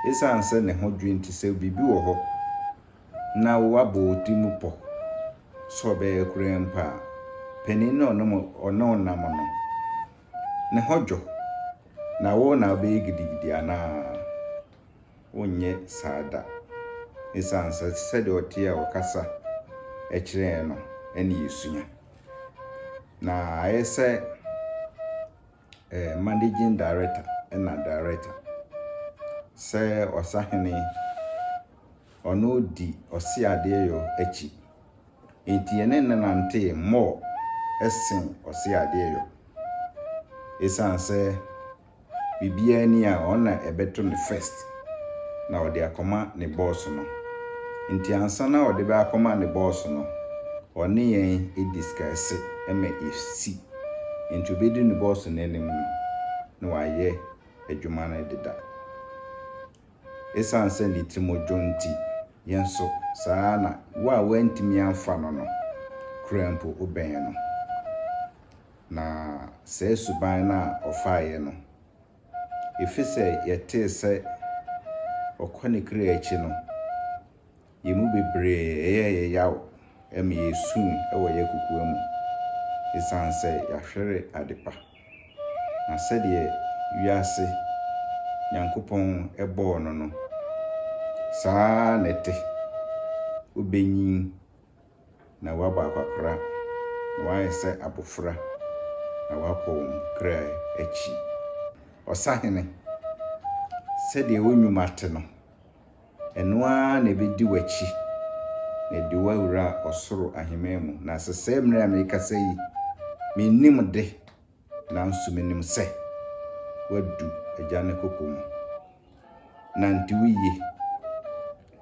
E: Esiane sɛ ne ho dwo nti, sɛ biribi wɔ hɔ na wabɔ wo ti mu pɔ sɛ ɔbɛyɛ koraa mpo a, panin no a ɔne wo nam no, ne ho dwo, na wo na wobɛyɛ gidigidi anaa? Wonyɛ saa da. Esiane sɛ sɛdeɛ ɔteɛ a ɔkasa kyerɛ yɛn no na yɛsua. Na ayɛ sɛ eh, managing director na director sɛ ɔsahene ɔno di ɔseadeɛyɔ akyi. Enti yɛne no nantee mmɔɔ sen ɔseadeɛyɔ. Esiane sɛ biribiara nni a ɔno na ɛbɛto no first na ɔde akɔma ne boss no nti ansa na ɔde bɛ akɔma ne boss no, ɔne yɛn diskɛse ma esi. Enti obedu ne boss no anim no na wayɛ adwuma no deda. Esiane sɛ ne ti mu dwo nti, yɛn nso, saa ara na wo a woantumi amfa no no, kura mpo wobɛn no. Na saa suban no a ɔfaeɛ no, ɛfiri sɛ yɛtee sɛ ɔkɔ ne kra akyi no, Yɛn mu bebree yɛɛ yɛn yaw ma yesui wɔ yɛn kokoa mu esiane sɛ yɛahwere adepa. Na sɛdeɛ wiase Nyankopɔn bɔɔ no no, saa ara na ɛte, wobenyin na wɔabɔ akwakoraa, na wɔayɛ sɛ abofra na wɔakɔ wɔn kra akyi. Ɔsahene, sɛdeɛ wo nnwuma te no, Ɛno ara na ɛbɛdi w'akyi, na ɛde wo awura ɔsoro ahemman mu. Na sesɛɛ mmerɛ a merekasa yi, mennim de, nanso menim sɛ woadu Agya no koko mu. Nante wo yie,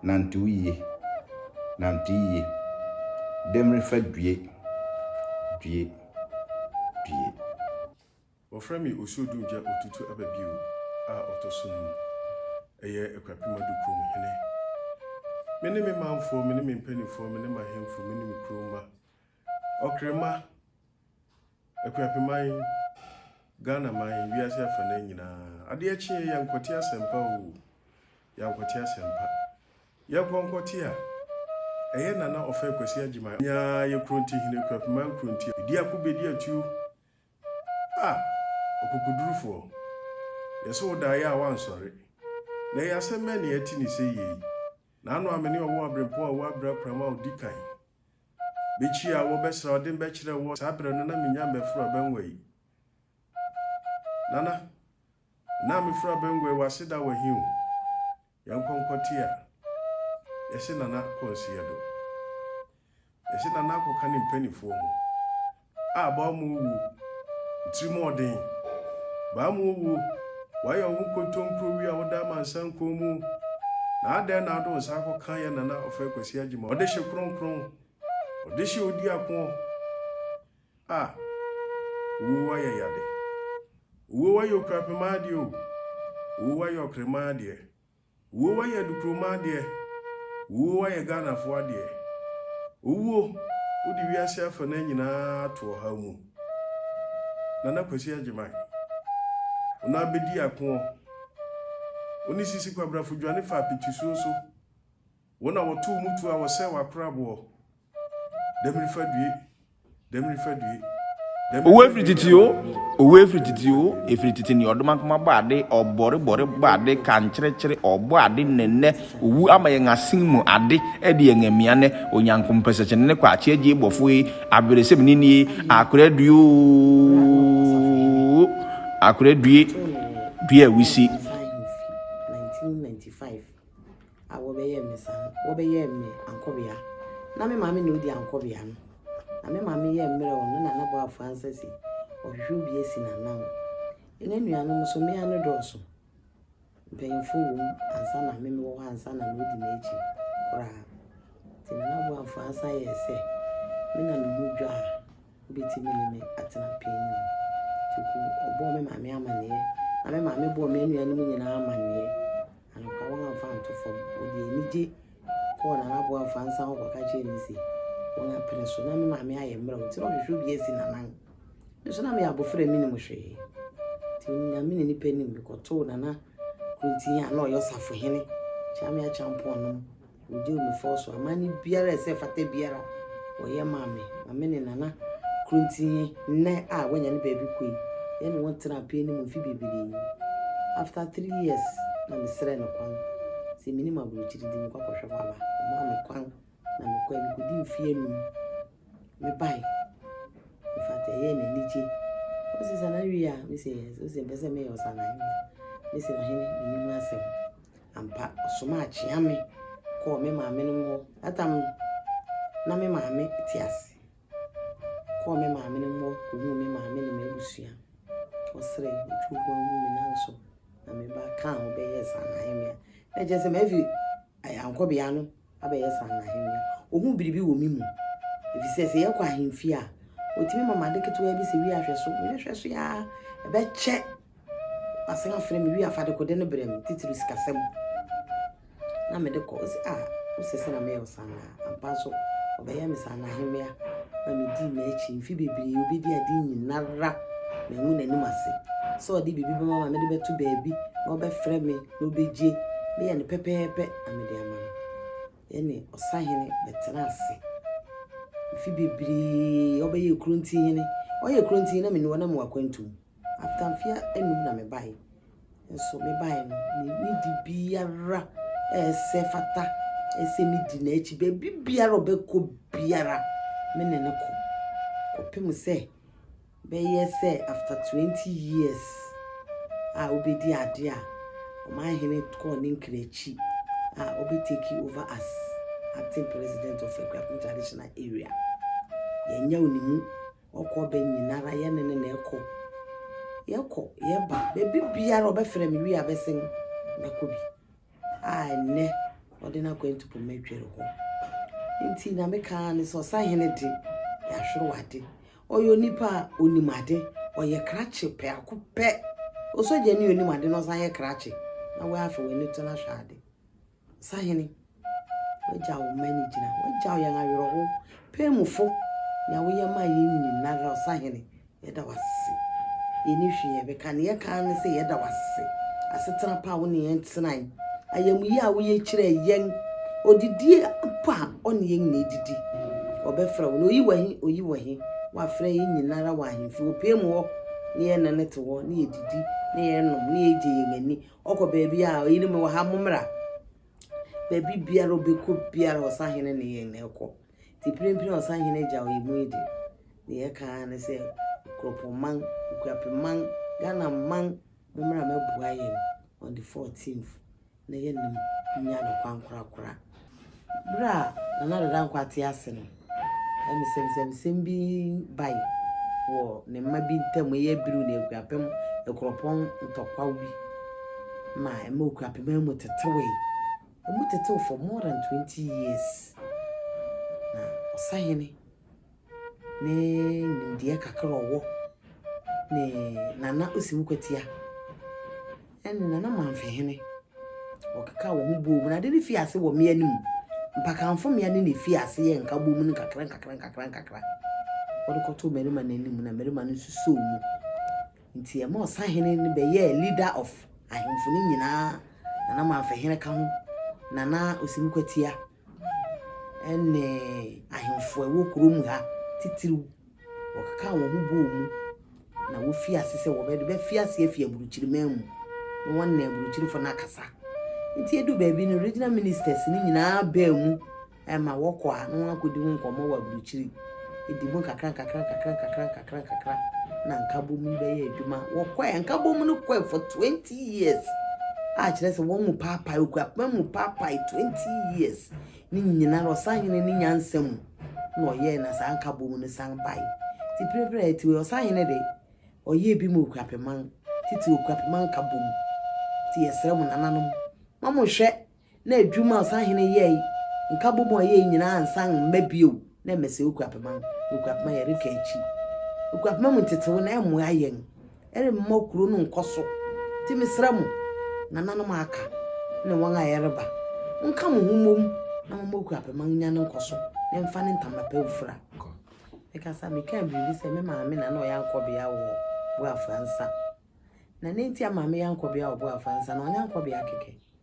E: nante wo yie, nante yie. Dɛm refa due, due, due.
F: Wɔfrɛ me Osuodungya Otutu Aba Bio a ɔtɔ so num. Ɛyɛ Akuapem Ado kurom hene. Me ne me manfoɔ, me ne me mpanimfoɔ, me ne m'ahemfo, me ne me kurom mma. Ɔkrema, Akuapeman, Ghana man, wiase afanan nyinaa. Adeɛ kyeɛ yɛ nkɔte asɛmpa o. Yɛ nkɔte asɛmpa. Yɛ kɔ nkɔte a. Ɛyɛ Nana Ɔfɛ Kwasi Agyima. Nyaa yɛ Kronti hene, Akuapeman Kronti. Di ako bɛdi atuo. Ah! Ɔkokodurufoɔ, yɛse wo daeɛ a woansɔre, na ɛyɛ asɛm bɛn na yɛte no sɛ yie yi? N'ano amene a ɔwɔ aberempɔn a wabere akuram a ɔdi kan bɛkyi a wɔbɛsra ɔde mbɛkyerɛ woɔ saa berɛ no na menya mbɛforo abangua yi. Nana, Nna meforo abangua yi wɔ aseda wɔ he o? Yɛnkɔ nkɔtse a yɛse Nana kɔ nseɛ do. Yɛse Nana akɔka ne mpanifoɔ ho a baa mu owuo, ntirim ɔden, baa mu owuo, wayɛ wo ho kontompro wi a woda amansan kɔn mu na adɛn na ade wo nsa akɔka yɛ Nana ɔfɛ Kwasi Agyima ɔdehye kronkron, ɔdehye odiakoɔ Ah Owuo wayɛ yade Owuo wayɛ okurapemaa adeɛ o Owuo wayɛ ɔkremaa adeɛ Owuo wayɛ adukuromaa adeɛ Owuo wayɛ Ghanafoɔ adeɛ Owuo wode wiase afanaa nyinaa ato ɔhaw mu Nana Kwasi Agyeman Wo nan bɛdi akoɔ Wo ne Sisi Kwabrafo dwane faa petusuo so Wo na wɔtow mu tu a wɔsɛe w'akoraboɔ. Dɛm refa due, dɛm refa due.
A: Owu efiri titi o, owu efiri titi o, efiri titi ni ɔdoma nkoma bɔ ade, ɔbɔre bɔre bɔ ade, kankyerɛkyerɛ ɔbɔ ade nnɛnnɛ, owu ama yɛn asen mu ade ɛde yɛn amia nnɛ, onyanko mpɛsɛkyɛne ne kwakye agye bɔfo yi, aberesem ni nie, akora due oo, akora due, due awisi.
B: a wɔbɛyɛɛ me saa no, wɔbɛyɛɛ me ankɔbea. Ná me maame na odi ankɔbea no, na me maame yɛ mmerɛw no na n'abɔ afra nsa si ɔhwehwɛ obi asi n'anan. Yɛn anuanom nso, mmea no dɔɔso, mpanyimfo wom ansa na me mewɔ hɔ ansa na na odi m'akyi koraa. Nti na n'abɔ afra nsa yɛ sɛ me na me ho dwo a Wobɛtumi ne me atena panin mu. Toku, Ɔbɔɔ me maame amanneɛ, na me maame bɔɔ me anuanom nyinaa amanneɛ. Anokwa, wɔn amfa anto fam. Wɔde anigye kɔɔ Nana Aboa Afaa nsa hɔ kɔka kyerɛɛ no se, wɔn apene so. Na me maame ayɛ mmerɛw, nti na ɔhwehwɛ obi asi n'anan. Me nso na meyɛ abofra a menim hwee. Nti Onyame ne nipa nim, mekɔtoo Nana Kunti a na ɔyɛ ɔsafohene, Kyame Acheampong no Wɔdi me fɔ so. Amanne biara a ɛsɛ fata biara wɔyɛ maa me. Na me ne Nana Krontie nnɛ a wanya ne baabi kɔ yi, yɛne wɔn tenaa pie no mu mfe bebree. After three years na mesrɛɛ no kwan sɛ menim aburokyiri nti menkɔ akɔhwɛ hɔ aba. Ɔmaa me kwan na mekɔe. Mekɔdii mfe anum. Mebae. In fact, ɛyɛɛ me anigye. Ɔse Sanaa wie a? Mese yes. Ɔse mpɛ sɛ meyɛ Ɔsanaa hene. Mese ɔhene menim ho asɛm. ampa ɔsomaa kyea me kɔɔ me maame nom hɔ that time no na me maame te ase kɔɔ me maame nom hɔ kɔhuu me maame ne m'abusua ɔserɛ ɔtwi kɔ hu me nan so na me ba kaa ho bɛyɛ saa na ayɛ me a na kyerɛ sɛ mafi ayankɔbea no abɛyɛ saa no ahemmea. Ohuu biribi wɔ me mu, efisɛ sɛ yɛkɔ ahemfie a, otumi ma m'ade ketewaa bi sɛ wi ahwɛ so. Mehwɛhwɛ so aa, ɛbɛkyɛ wasan afrɛ me wi afadekode no brɛ me, titiriw sikasɛm. Na mede kɔ, ose a, wosɛ sɛ na meyɛ wo saa naa. Ampa nso, ɔbɛyɛ me saa no ahemmea. Na midii n'akyi mfe bebree, obedi ade nyinara, mangu n'anim ase sɛ ɔde biribi bɛma ma mede bɛto baabi na ɔbɛfrɛ me. Na obegye, meyɛ no pɛpɛɛpɛ na mede ama no. Yɛne ɔsahene bɛtena ase mfe bebree. Ɔbɛyɛ Kuronti hene. Ɔyɛ Kuronti hene na mene wɔnam wakwantu mu. After mfe anum na mebae. Nso mebae no, ne di biara ɛsɛ fata ɛsɛ medi n'akyi. Baabi biara ɔbɛkɔ biara, me ne no kɔ. Kɔpem sɛ bɛyɛ sɛ after twenty years a wobɛdi adeɛ a ɔmanhene kɔɔ ne nkrakyi a ɔbɛ take over as acting president of Akuapem traditional area yɛnyɛ wo ne mu ɔkɔ bɛ nyinara yɛne ne na ɛkɔ yɛkɔ yɛba baabi biara ɔbɛfrɛ me wie abɛsen mɛkɔ bi a ɛnnɛ ɔde n'akwantu poma adwiri hɔ. Nti Nyame kaa ne sɛ ɔsahene de yɛahwere wade. Ɔyɛ onipa a onim ade, ɔyɛ krakye pɛako pɛ. Osogya ni onim ade na ɔsan yɛ krakye na wɔafa w'ani to no ahwɛ ade. Sahene, wagya wo mma ne gyina, wagya yɛn awerɛho, pɛmufo, nea woyɛ maa yɛn nyinara ɔsahene, Yɛda wo ase. Yɛnni hwee a yɛbɛka. Nea yɛka ara ne sɛ yɛda wo ase. Asetena pa a wo ne yɛn tenae. Ayamye a woyɛ kyerɛɛ yɛn. Odidie mpo a ɔne yɛn nyinaa didi. Ɔbɛfrɛ wo na oyi wɔ he, oyi wɔ he. Woafrɛ yɛn nyinara wɔ ahemfie. Wɔ pie mu hɔ ne yɛne no te hɔ, ne yɛdidi, ne yɛnom, ne yɛgye yɛn ani. Ɔkɔ baabi a, ɔyere mewɔ ha, mommra. Baabi biara ɔbɛkɔ biara, ɔsahene ne yɛn na ɛkɔ. Nti mprempren Ɔsahene Agya Ɔyɛmu yi de, nea ɛka ara ne sɛ, Nkurɔpɔnman, Nkuapeman, Ghanaman, mommra mɛboa yɛn on the 14th na yɛne mo nnya no kwankorakora. Berɛ a Nana Addo Dankwa te ase no, nsɛmnsɛmsɛm bi bae wɔ ne mma bi ntam, ɛyɛ Abiru ne Akuapem Nkurɔpɔn ntɔkwaw bi ma ɛma Okuapeman mu tetewee. Ɔmo tetew for more than twenty years. Na ɔsahene ne nimdeɛ kakra a ɔwɔ ne Nana Osim Kwatia ɛne Nana Manfehene ɔkekaa wɔn ho bɔɔ mu. Na ade no fii ase wɔ mmea no mu. Mpakanfo mmea no na efii ase yɛ nkabom no nkakra nkakra nkakra nkakra. Wɔde kɔtoo mmarima no anim na mmarima no nso soo mu. Ntsi yɛmaa ɔsahene no bɛyɛɛ leader of ahemfo no nyina, na na Manfɛhene ka ho, na na Osim Kwatia ne ahemfo a ɛwɔ kuro mu ha titiriw wɔkekaa wɔn ho bɔɔ mu na wofii ase sɛ wɔbɛde bɛfi ase afi aburukyiri man mu na wɔne aburukyirifo no akasa. Nti edu baabi no regional ministers no nyinaa baa mu Ɛma wɔkɔ a na wɔakɔdi ho nkɔmmɔ wɔ aburokyiri, ɛdi mu nkakrankakrankakrankakrankakrankakra na nkabom yi bɛyɛ adwuma. Wɔkɔɛ, nkabom no kɔɛ for 20 years a kyerɛ sɛ wɔn mu paapae, okuapena mu paapae 20 years ne nyina na ɔsahene ne nyansa mu na ɔyɛɛ na saa nkabom no san bae. Ti pirepire a ɛti wei ɔsahene de, ɔyɛɛ bi ma okuapeman, titi okuapeman nkabom. Ti yɛsrɛ mo nananom, ma mo hwɛ Na adwuma a ɔsahene yɛe, nkabom a ɔyɛe nyinaa ansan mma bio. Na ɛmmɛ sɛ okura pema. Okura pema yɛreka akyi. Okura pema mu ntetew no ɛmmoa yɛn. Ɛremma okuro no nkɔ so. Nti mesrɛ mo, nananom a aka ne wɔn a yɛreba, monka mo ho mmom na momma okura pema nnya ne nkɔso na ɛmfa ne ntama pa mfura. Mekasa mekaa biribi sɛ me maame na na ɔyɛ ankɔbea wɔ Boafo Ansa. Na nea enti a maame yɛ ankɔbea wɔ Boafo Ansa no ɔnyɛ ankɔbea kɛkɛ.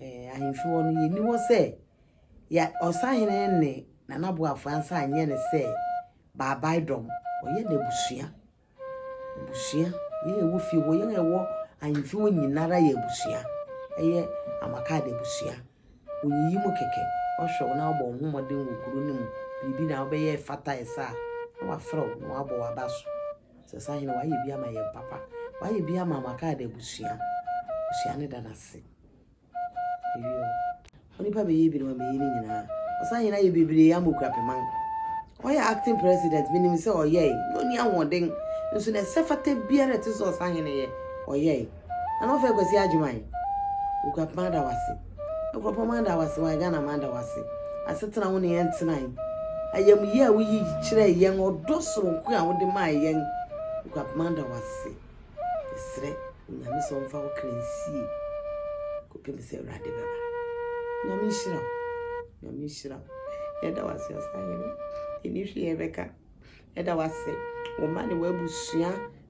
B: Eh, ahemfi hɔ no, yɛni hɔ sɛ yɛ ɔsahene ne nanaboafoɔ ansa anyɛ no sɛ baabae dɔm. Ɔyɛ n'abusua. Abusua. Yɛn ɛwɔ fie hɔ, yɛn ɛwɔ ahemfi hɔ nyinara yɛ abusua. Ɛyɛ amakade abusua. Ɔyiyi mu kɛkɛ. Ɔhwɛ wo na ɔbɔ wo ho mmɔden wɔ kuro no mu. Biribi na wobɛyɛ ɛfata ɛsa a, na wafrɛ wo na wabɔ w'aba so. sɛ sahene wayɛ bi ama yɛn papa wayɛ bi ama ama kaade abusua abusua ne da n'ase ɛwie o onipa bɛyɛ bi na wamɛyɛ ne nyinaa ɔsahene ayɛ bebree ama okura pɛman ɔyɛ acting president menim sɛ ɔyɛe na ɔni ahoɔden nso na ɛsɛ fata biara ɛte sɛ ɔsahene yɛ ɔyɛe Na na ɔfrɛ Kwasi Agyeman. Okuapem ada wo ase. Nkurɔpɔn man da wo ase wae Ghana man da wo ase. Asetena wo ne yɛn tenae. Ayamyie a woyi kyerɛɛ yɛn, ɔdɔ soronko a wode mae yɛn. Okuapem man da wo ase. Yɛsrɛ Onyame sɛ ɔmfa wo kra nsie kɔpem sɛ Awurade bɛba. Nyame nhyira wo. Nyame nhyira wo. Yɛda wo ase ɔsahene. Yɛni hwee yɛbɛka. Yɛda wo ase. Wo mma ne w'abusua.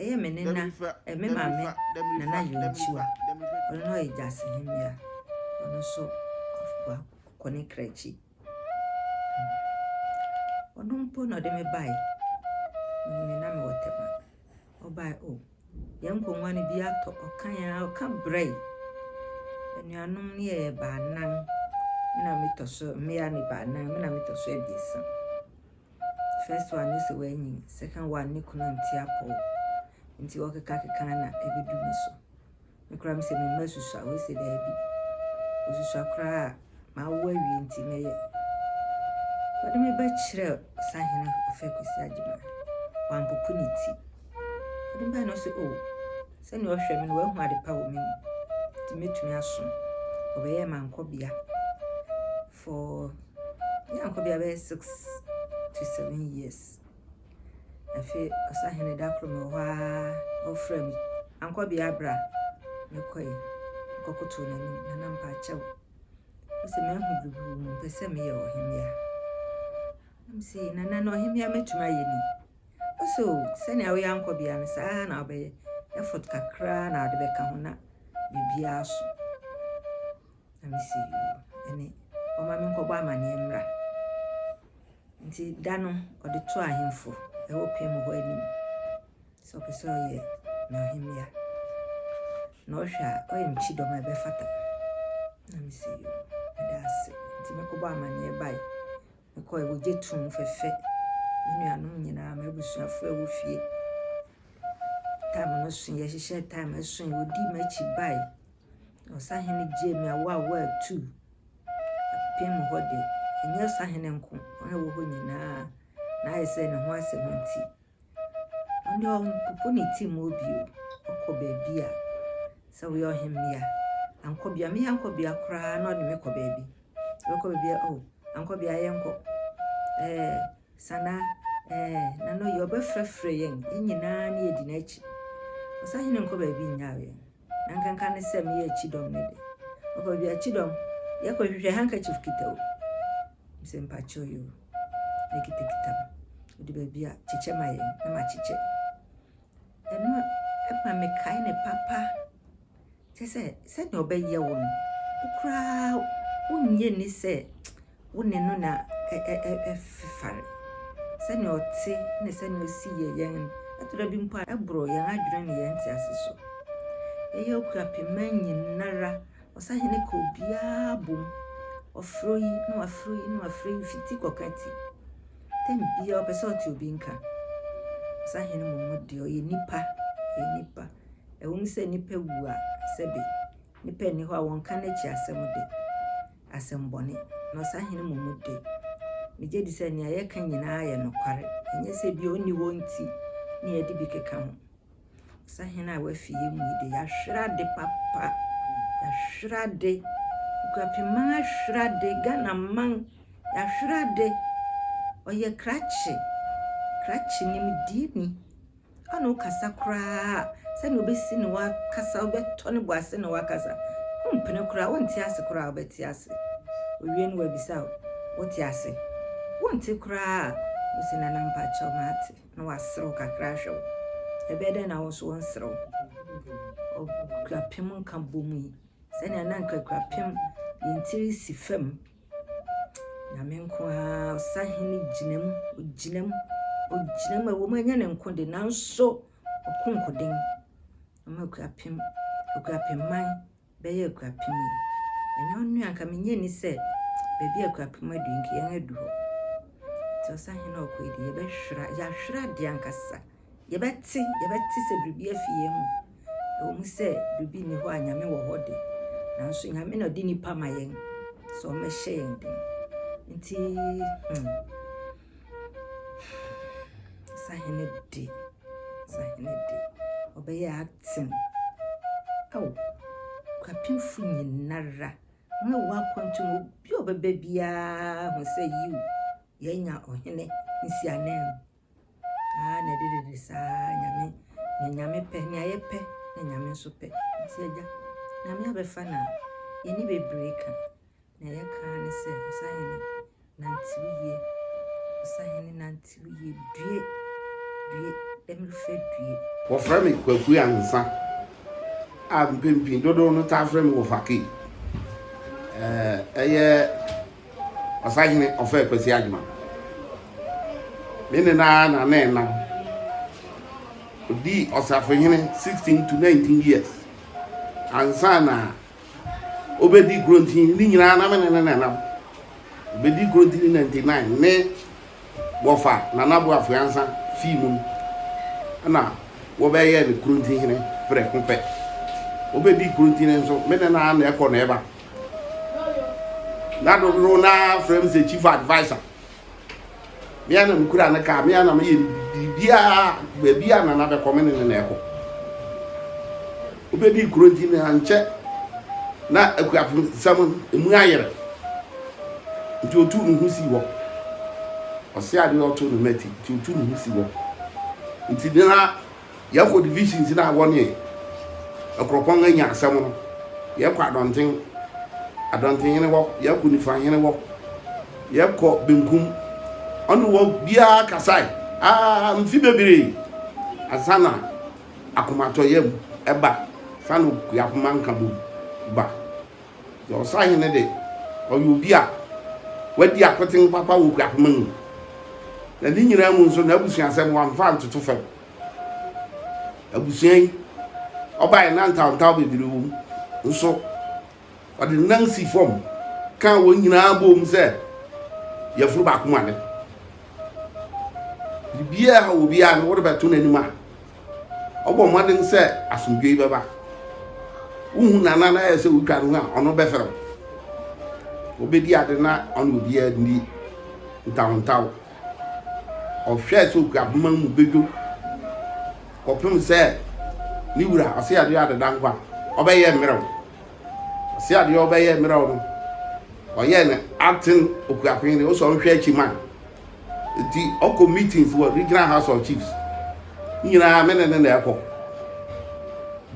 A: Ɛyɛ
G: me nena, eh, me maame nana Yontua. Ɔno na ɔyɛ Gyasi Hemmea. Ɔno nso ɔkɔ ne kra akyi. Ɔno mpo na ɔde me bae. Me na mewɔ tɛma. Ɔbae o. Oh, yɛn nkonnwa no bi atɔ. Ɔka yɛn a ɔka brɛe. Anuanom no yɛ baanan. Me na metɔ so mmea ne baanan. Me na metɔ so abiɛsa. First one no sɛ wanyin, second one ne kunu nte apɔw. Nti ɔkeka keka na ebedu me so. Me kora me sɛ me mma susua, wei sɛ daabi. Osusua koraa a mawo awie nti mɛyɛ. Wɔde me bɛkyerɛ sahene ɔfɛ Kwesi Agyemang. Wampopo ne ti. Wɔde me baa no sɛ, oh, sɛnea ɔhwɛ me no wahu ade pa wɔ me mu. Nti mɛtumi asom. Ɔbɛyɛɛ mankɔbea. for ne akɔ bia bɛyɛ six to seven years afei ɔsahene da koro mɛ hɔ ara ɔfrɛ me ankɔ bia bra mekɔe kɔkoto n'anim na na mpa akyɛw sɛ mahu biribi wɔ mu mpɛ sɛ meyɛ ɔhemmea nam sɛ nana na ɔhemmea mɛtumi ayɛ ni ɔsɛ o sɛnea woyɛ ankɔ bia no saa na wobɛyɛ effort kakra na ade bɛka ho na biribiara so Na mese, ɛne, ɔma me nkɔbɔ amanneɛ mmra. Nti da no, ɔde to ahemfo ɛwɔ pɛ mu hɔ anim sɛ ɔpɛ sɛ ɔyɛ n'ahemmea. Na ɔhwɛ a, ɔyɛ mekyi dɔm a ɛbɛfata. Na mese, ɛda ase. Nti mekɔbɔ amanneɛ bae. Mekɔ ɛwɔ gye tum fɛfɛ. Me nuanom nyinaa, m'abusuafo a ɛwɔ fie. Tam no so, yɛhyehyɛ tam ɛso, ɔdi m'akyi bae. Ɔsahene James Awuah Wah ii, apem hɔ de, ɛnyɛ ɔsahene nko, wɔn a ɛwɔ hɔ nyinaa na ayɛ sɛ ne ho asɛm nti, ɔne ɔmpopo ne ti mu bio, ɔkɔ baabi a, sɛ woyɛ ɔhemmea, ankɔbea, me ankɔbea koraa na ɔde me kɔ baabi, ɔkɔ baabi a, oh, ankɔbea yɛnkɔ, ɛɛ, sana, ɛɛ, nano yɛ ɔbɛfrɛfrɛ yɛn, yɛn nyinaa ne yɛdi n'akyi. Ɔsahene nkɔ baabi nnyaa yɛn. na nkanka ne sɛ meyɛ kyidɔm no de. Ɔkɔ baabi a kyidɔm, yɛkɔ hwehwɛ handkerchief kita o. Sɛ mpakyɛw yi o, ne kitakita mu. Ɔde baabi a kyekyɛ ma yɛn na makyekyɛ. Ɛno ɛma mekae ne papa. Kyɛ sɛ sɛdeɛ ɔbɛyɛ wo no, wo koraa wonyɛ ni sɛ wo ne no na ɛfefare. Sɛnea ɔte ne sɛnea osi yɛ yɛn no, ɛtɔ da bi mpo a ɛboro yɛn adwene ne yɛn ntease so. Yɛyɛ Okuapemma nyinara, ɔsahene ka obiara bom. Ɔfrɛ oyi na wafrɛ oyi na wafrɛ oyi fi ti kɔka ti. Tɛm biara ɔpɛ sɛ ɔte obi nka. Ɔsahene mmom deɛ ɔyɛ nipa, ɔyɛ nipa. Ɛwom sɛ nipa wu a, sɛbe nipa nni hɔ a wɔnka n'akyi asɛm de. asɛmmɔne, na ɔsahene mmom de, migye di sɛ nea yɛka nyinaa yɛ nokware, ɛnyɛ sɛ ebia onni hɔ nti na yɛde bi keka ho. Ɔsahene a wafi yɛn mu yi de, yɛahwere ade papa, yɛahwere ade, Nkurapemman ahwere ade, Ghana man, yɛahwere ade. Ɔyɛ krakye, krakye nimdeɛni. Ana ɔkasa koraa sɛnea ɔbɛsi ne wakasa, wobɛtɔ ne bo ase na wakasa. Wompene koraa, wonte ase koraa a wobɛte ase. Owie no wabisa wo, wote ase? Wonte koraa a, wose nana mpakyɛw mate na waserew kakra ahwɛ wo. Ɛbɛyɛ dɛn na wo nso wonserew? Ɔkurapem nka bom yi, sɛnea na nkakurapem yɛn tiri si fam Nyame nko ara ɔsahene gyina mu, ɔgyina mu, ɔgyina mu. Ɛwɔ mu ɛnyɛ ne nko de nanso ɔko nkoden. Ɔma akuapem, akuapemman bɛyɛ akuapem yi. Ɛnyɛ ɔno a nka menyɛ ni sɛ baabi a akuapem adu nka yɛn adu hɔ. Nti ɔsahene a ɔkɔ yi de yɛbɛhwera, yɛahwera adeɛ ankasa. yɛbɛte, yɛbɛte sɛ biribi afi yɛn mu. Ɛwɔ mu sɛ biribi nni hɔ a Nyame wɔ hɔ de, nanso Nyame na ɔde nnipa ma yɛn sɛ wɔmmɛhyɛ yɛn den. Nti, hmm, sahene de, sahene de, ɔbɛyɛ aten. Ao, kwapemfo nyinara, wɔn a ɛwɔ akwantu mu, obi a ɔbɛba biara ho sɛ yiw, yɛanya ɔhene nsiananmu. Aane dedede saa nyame nea nyame pɛ nea yɛpɛ na nyame nso pɛ nti agya nyame abɛfa na yɛni bebree ka nea yɛka ara ne sɛ ɔsahene nante wo yie ɔsahene nante wo yie due due ɛmrefɛ due Wɔfrɛ me Kwaku
H: Ansa a mpɛn pii dodow no taa frɛ me Wɔfakei. Ɛɛ ɛyɛ Ɔsahene ɔfɛɛ Kwasi Agyemang ne ne nana na ne nna. Ɔdii ɔsafohene 16 to 19 years ansa na ɔbɛdi Kurontini ne nyinaa na me ne ne nanam. Ɔbɛdi Kurontini 99 ne wɔfa Nana Boafo Ansa fii mu no ɛna wɔbɛyɛɛ no Kurontini hene prɛko pɛ. Ɔbɛdii Kurontini nso me ne nana na ɛkɔ na ɛba. na dodow no ara frɛ me sɛ chief adviser me ana mekura ne kaa me ana meyɛ biribiaa baabi a nana bɛkɔ me ne ne na ɛkɔ wobɛdi kuro nti na nkyɛ na akuafosɛm ɛmu ayerɛ nti ɔtu ne ho si hɔ ɔse adeɛ ɔto ne mati nti ɔtu ne ho si hɔ nti na Yɛkɔ divisions no a wɔne Akuropɔn anya asɛm no, yɛkɔ Adɔnten, Adɔntenhene hɔ, yɛkɔ Nifahene hɔ, yɛkɔ benkum, ɔne wɔ biara kasae aa mfe bebree ansa na akomatɔyam ba, ansa na Okuapoma Nkabom ba. Na ɔsahene de, ɔyɛ obi a wadi akoten papa wɔ Kuapoma mu. Na ne nyinaa mu nso, n'abusuasɛm wamfa antoto fam. Abusua yi ɔbaeɛ na ntawntaw bebree wɔ mu, nso ɔde nan si fam kaa wɔn nyinaa boom sɛ yafunu baako mu ade. Biribiara a ɛhaw obiara no, wode bɛto n'anim a, Ɔbɔ mmɔden sɛ asomdwoe bɛba. Wuhu nana na ayɛ sɛ wotwa ne ho a, ɔno bɛfrɛ wo. Obedi ade na ɔne obiara nni ntawontaw. Ɔhwɛ sɛ okura poma no mu bedwo kɔpem sɛ ne wura ɔse adeɛ adeda nkwa a, ɔbɛyɛ mmerɛw. Ɔse adeɛ ɔbɛyɛ mmerɛw no, ɔyɛ no aten okuapɛn de, wosɛ ɔnhwɛ akyi ma Nti ɔkɔ meetings wɔ regional house of chiefs ne nyinaa me ne ne na ɛkɔ.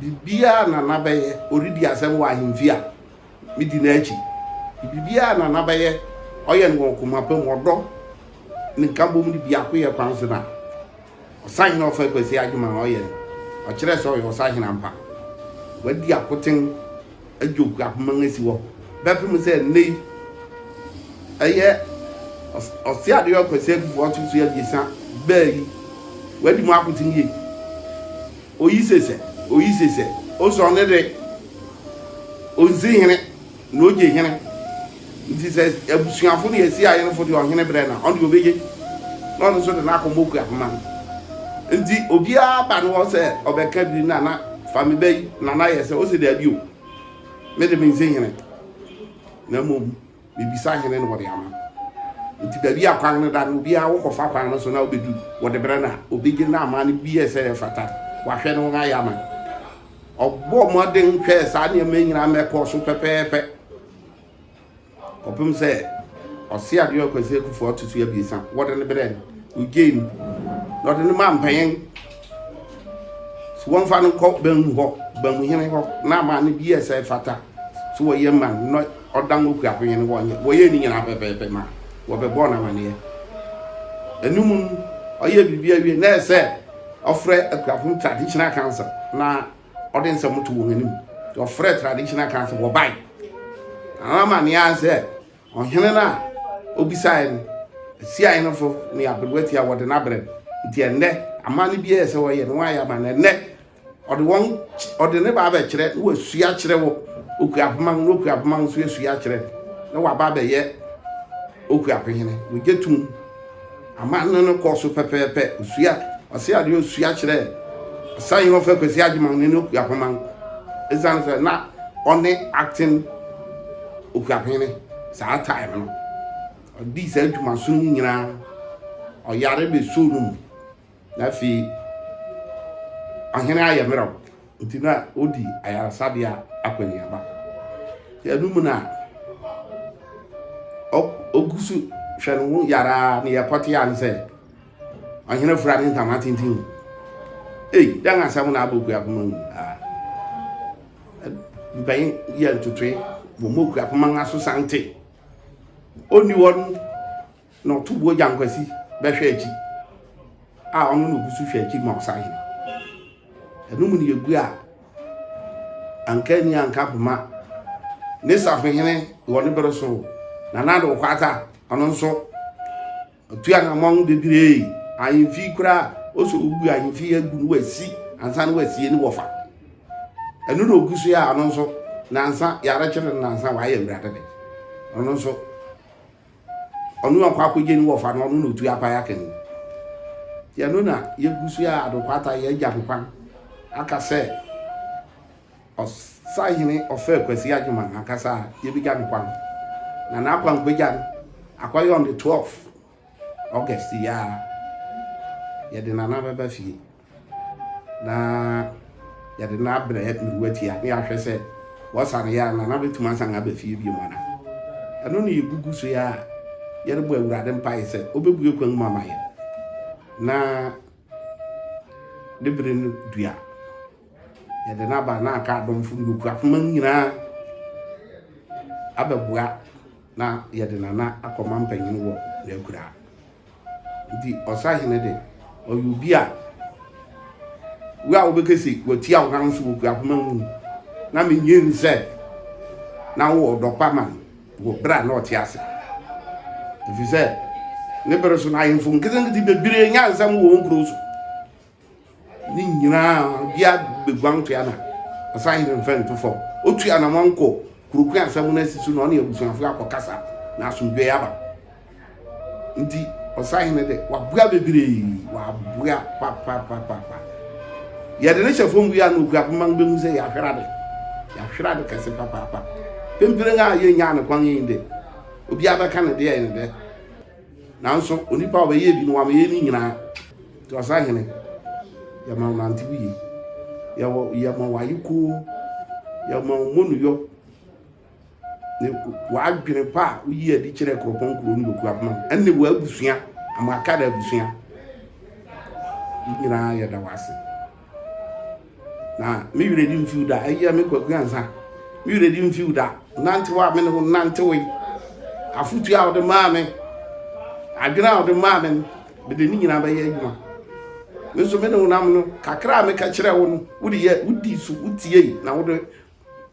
H: Biribiara nana bɛyɛ ɔredi asɛm wɔ ahemfi a medi n'akyi. Biribiara nana bɛyɛ ɔyɛ no wɔ koma pa mu ɔdɔ ne nkabom ne biakoyɛ kwan so no a. Ɔsahene a ɔfaa Kwasi adwuma a ɔyɛ no, ɔkyerɛɛ sɛ ɔyɛ ɔsahene ampa. Wadi akoten agye Okuapman asi hɔ bɛpem sɛ nnɛ yi ɛyɛ Ɔseadoyɔ Kwasi Adufoɔ ɔto so abiɛsa baa yi. Wadi mu akoten yie. Oyi se sɛ, oyi se sɛ, ɔsɔre ne de, ɔnsi hene. Na ogye hene. Nti sɛ abusuafo ne yɛsi ayenefo de ɔhene brɛ no a, ɔno deɛ ɔbɛgye, na ɔno nso de n'akoma okua koma no. Nti obiara ba ne hɔ sɛ ɔbɛka biri na na fa me ba yi, na na yɛ sɛ ɔsɛ daabi o, me de mensi hene, na mmom mebisa hene na ɔde ama. Nti baabi a kwan no da no, obiara wokɔfa kwan no so na wobɛduru, wɔde brɛ no a, ɔbɛgye na ama no bi yɛ sɛ ɛfata, wahwɛ ne ho ayɛ ama no. Ɔbɔɔ mmɔden hwɛɛ saa nneɛma yi nyinaa ma ɛkɔɔ so pɛpɛɛpɛ kɔpem sɛ ɔse adeɛ ɔkwasi akufoɔ ato so abiesa wɔde no berɛ no ogyei mu na ɔde no maa mpanyin so wɔmfa no nkɔ banmu hɔ banmuhene hɔ na ama no bi yɛ sɛ fata so wɔyɛ ma no na ɔda ngo kua panyin wɔnyɛ wɔyɛ ne nyinaa pɛpɛɛpɛ ma wɔbɛbɔɔ no amaneɛ ɛno mu no ɔyɛ biribi awie na ɛsɛ Ɔfrɛ akuafo no traditional council na ɔde nsɛm to wɔn anim. Ɔfrɛ traditional council wɔbae. Anama ne ara sɛ ɔhene no a obisae no, Asia henefo ne aberewa ti a wɔde no abrɛ no. Nti ɛnnɛ amanne bi ɛyɛ sɛ wɔyɛ no wɔayɛ ama no ɛnnɛ. Ɔde wɔn ɔde ne ba abɛkyerɛ na wasua akyerɛ wɔ okuapoma ho na okuapoma ho nso asua akyerɛ na waba abɛyɛ okuapo hene. Wogye tom. Amanne no kɔɔ so pɛpɛɛpɛ. Osua ɔse ade a osua kyerɛɛ Asahi Hɔfɛ Kwasi Agyeman ne ne Okuapoman esiane sɛ na ɔne Acting Okuapene saa time no. Ɔdii saa adwumasono yi nyinaa, ɔyare bɛsoo no mu. Na afei ahene ayɛ mmerɛw, nti na odi ayaresabea akɔneaba. Ɛno mu na ogu so hwɛ ne ho yaraa ne yɛkɔtea ne sɛ ɔhene fura ne ntama tenten. Ei, dɛn asɛm na abɔ kuapoma mu? Ah. Mpanyin yɛ ntotoe, wɔmmɔ kuapoma no aso sante. Onni hɔ no Na ɔtoboɔ Gyankwasi bɛhwɛ akyi a ɔno na ɔgusu hwɛ akyi ma ɔsahene. Ɛno mu no yɛgu a anka ani anka poma ne safohene wɔ ne bere so nana de ɔkwata ɔno nso ɔtua na mma ho bebree ahemfi koraa ɔsɛ ɔbu ahemfi agu no wasi ansa no wasie ne wɔfa ɛno na ɔgu so yɛ a ɔno nso nansa yɛarekyere no nansa wayɛ awurade de ɔno nso Ɔno na ɔkɔ akɔgye ne wɔfa no, ɔno na ɔtu apae aka mu. Nti ɛno na yɛgu so a adokwata yɛ agya nkwan aka sɛ ɔsahene ɔfɛ Kwasi Agyeman ankasa a yɛbɛgya no kwan na n'akwan bɛgya no akɔyɛ on the 12 August yi a yɛde nana bɛba fie. Na yɛde no abrɛ mmerewatia na yɛahwɛ sɛ wɔsan yɛ anaa, na bɛtumi asan aba fie bio anaa. Ɛno na yɛgugu so yɛ a yɛrebɔ Awurade mpae sɛ ɔbɛbue kwan mu ama yɛn na ne bere no dua. Yɛde no aba na aka adɔmfo ne okuafoma nyinaa abɛboa na yɛde nana akɔma mpanyin wɔ n'akuraa. Nti ɔsahene de, ɔyɛ obi a wo a wobɛka se watia wo nan so wɔ kuapoma mu no, na menyin sɛ na wowɔ ɔdɔ pa ma no wɔ berɛ a na ɔte ase. Ɛfiri sɛ ne bere so no ahemfo nketenkete bebree nyaa nsɛm wɔ wɔn nkuro so. Ne nyinaa bia bɛguan to ana ɔsan hene mfɛ nto fam otu anamɔ nkɔ kurokun asɛm no asi so na ɔne abusuafoɔ akɔkasa na asomdwoeɛ aba nti ɔsan hene dɛ waboa bebree waboa papapapapa yɛde ne hyɛ fam wie a na ɔkura poma no bɛhu sɛ yɛahwere ade yɛahwere ade kɛse papaapa pempere a yɛnyaa ne kwan yi dɛ obiara bɛka ne deɛ ne dɛ Nanso onipa a ɔbɛyɛɛ bi no wama yɛn ne nyinaa. Nti Ɔsahene, yɛma wo nante wo yie. Yɛwɔ, yɛma wo ayekoo. Yɛma wo mmɔnuyɔ. Ne w'adwene pa a woyi adi kyerɛ kuropɔn kuro ne okuo apema no, ɛne w'abusua, ama aka da abusua. Yɛn nyinaa yɛda wo ase. Na me werɛ remfiw da. Ayia me kwaku ansa. Me werɛ remfiw da. Nantew a me ne wo nantewee. Afotu a wode maa me. Adwene a wode maa me no, mede ne nyinaa bɛyɛ adwuma. Me nso me ne wo nam no, kakra a meka kyerɛɛ wo no, wode yɛ, wodi so, wotiei, na wode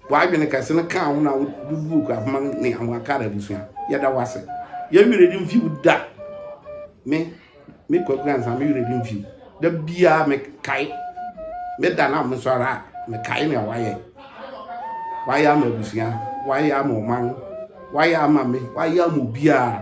H: w'adwene kɛse no kaa wo na wode buu Kwabema ne Amoakar abusua. Yɛda wo ase. Yɛn werɛ di mfi wo da. Me, me Kwaku Ansa, me werɛ di mfi wo. Da biara mekae, me da na mesɔre a, mekae nea wayɛ. Wayɛ ama abusua, wayɛ ama ɔman, wayɛ ama me, wayɛ ama obiara.